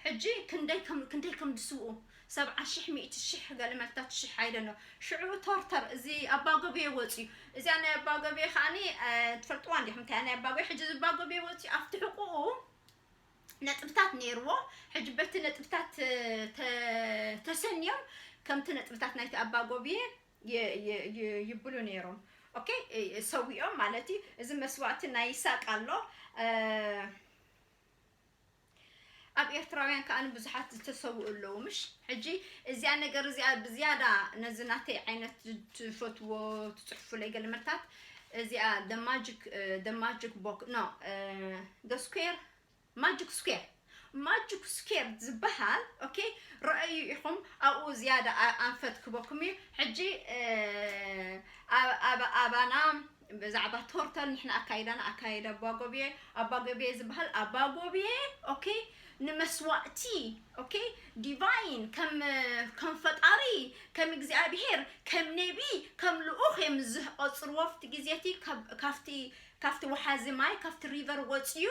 ሕጂ ክንደይ ከም ክንደይ ከም ዝስውኡ ሰብዓ ሽሕ ሚእቲ ሽሕ ገለ መልታት ሽሕ ኣይደኖ ሽዑ ቶርተር እዚ ኣባጎቤ ወፅዩ እዚኣ ናይ ኣባጎቤ ከዓኒ ትፈልጥዋ እንዲኹም እንታይ ናይ ኣባጎቤ ሕጂ እዚ ኣባጎቤ ወፅዩ ኣብቲ ሕቁኡ ነጥብታት ነይርዎ። ሕጂ በቲ ነጥብታት ተ ተሰንዮም ከምቲ ነጥብታት ናይቲ ኣባ ጎብየ ይ ይ ይ ይብሉ ነይሮም። ኦኬ እ ሰዊኦም ማለት እዩ። እዚ መስዋእቲ ናይ ይሳቅ ኣሎ እ ኣብ ኤርትራውያን ከኣ ብዙሓት ዝተሰውኡ ኣለዉ ምሽ ሕጂ እዚኣ ነገር እዚኣ ብዝያዳ ነዚ ናተይ ዓይነት ትፈትዎ ትጽሕፉለይ ገለ መልታት እዚኣ the magic the magic box no the square magic square magic square ዝበሃል ኦኬ ረኣዩ ኢኹም ኣብኡ ዝያዳ ኣንፈት ክበኩም እዩ ሕጂ ኣባና ብዛዕባ ቶርተል ንሕና ኣካይዳና ኣካይዳ ኣባጎብየ ኣባጎብየ ዝበሃል ኣባጎብየ ኦኬ ንመስዋእቲ ኦኬ ዲቫይን ከም ከም ፈጣሪ ከም እግዚኣብሄር ከም ነቢ ከም ልኡኽ እዮም ዝቆፅርዎ ኣብቲ ግዜ እቲ ካብ- ካብቲ ካብቲ ወሓዚ ማይ ካብቲ ሪቨር ወፅዩ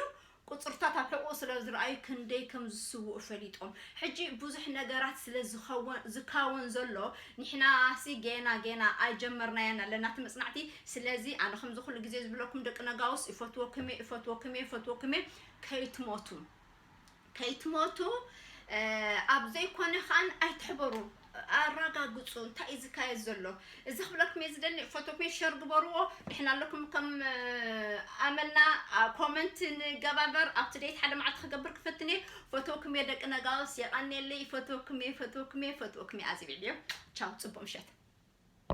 ቁፅርታት ኣብ ሕቑኡ ስለ ዝረኣዩ ክንደይ ከም ዝስውኡ ፈሊጦም ሕጂ ብዙሕ ነገራት ስለ ዝኸውን ዝካወን ዘሎ ንሕናሲ ጌና ጌና ኣይጀመርናያን ኣለና እቲ መፅናዕቲ ስለዚ ኣነ ከምዚ ኩሉ ግዜ ዝብለኩም ደቂ ነጋውስ ይፈትወኩም እየ ይፈትወኩም እየ ይፈትወኩም እየ ከይትሞቱ ከይትሞቱ ኣብ ዘይኮነ ከኣን ኣይትሕበሩ ኣራጋግጹ እንታይ እዩ ዝካየድ ዘሎ እዚ ክብለኩም እየ ዝደሊ ፈቶኩ ሸር ግበርዎ ንሕና ኣለኩም ከም ኣመልና ኮመንት ንገባበር ኣብቲ ደይት ሓደ መዓልቲ ክገብር ክፈትን እየ ፈቶኩም እየ ደቂ ነጋውስ የቐኔለይ ፈቶኩም እየ ፈቶኩም እየ ፈቶኩም እየ ኣዝቢዕዮ ቻው ፅቡቅ ምሸት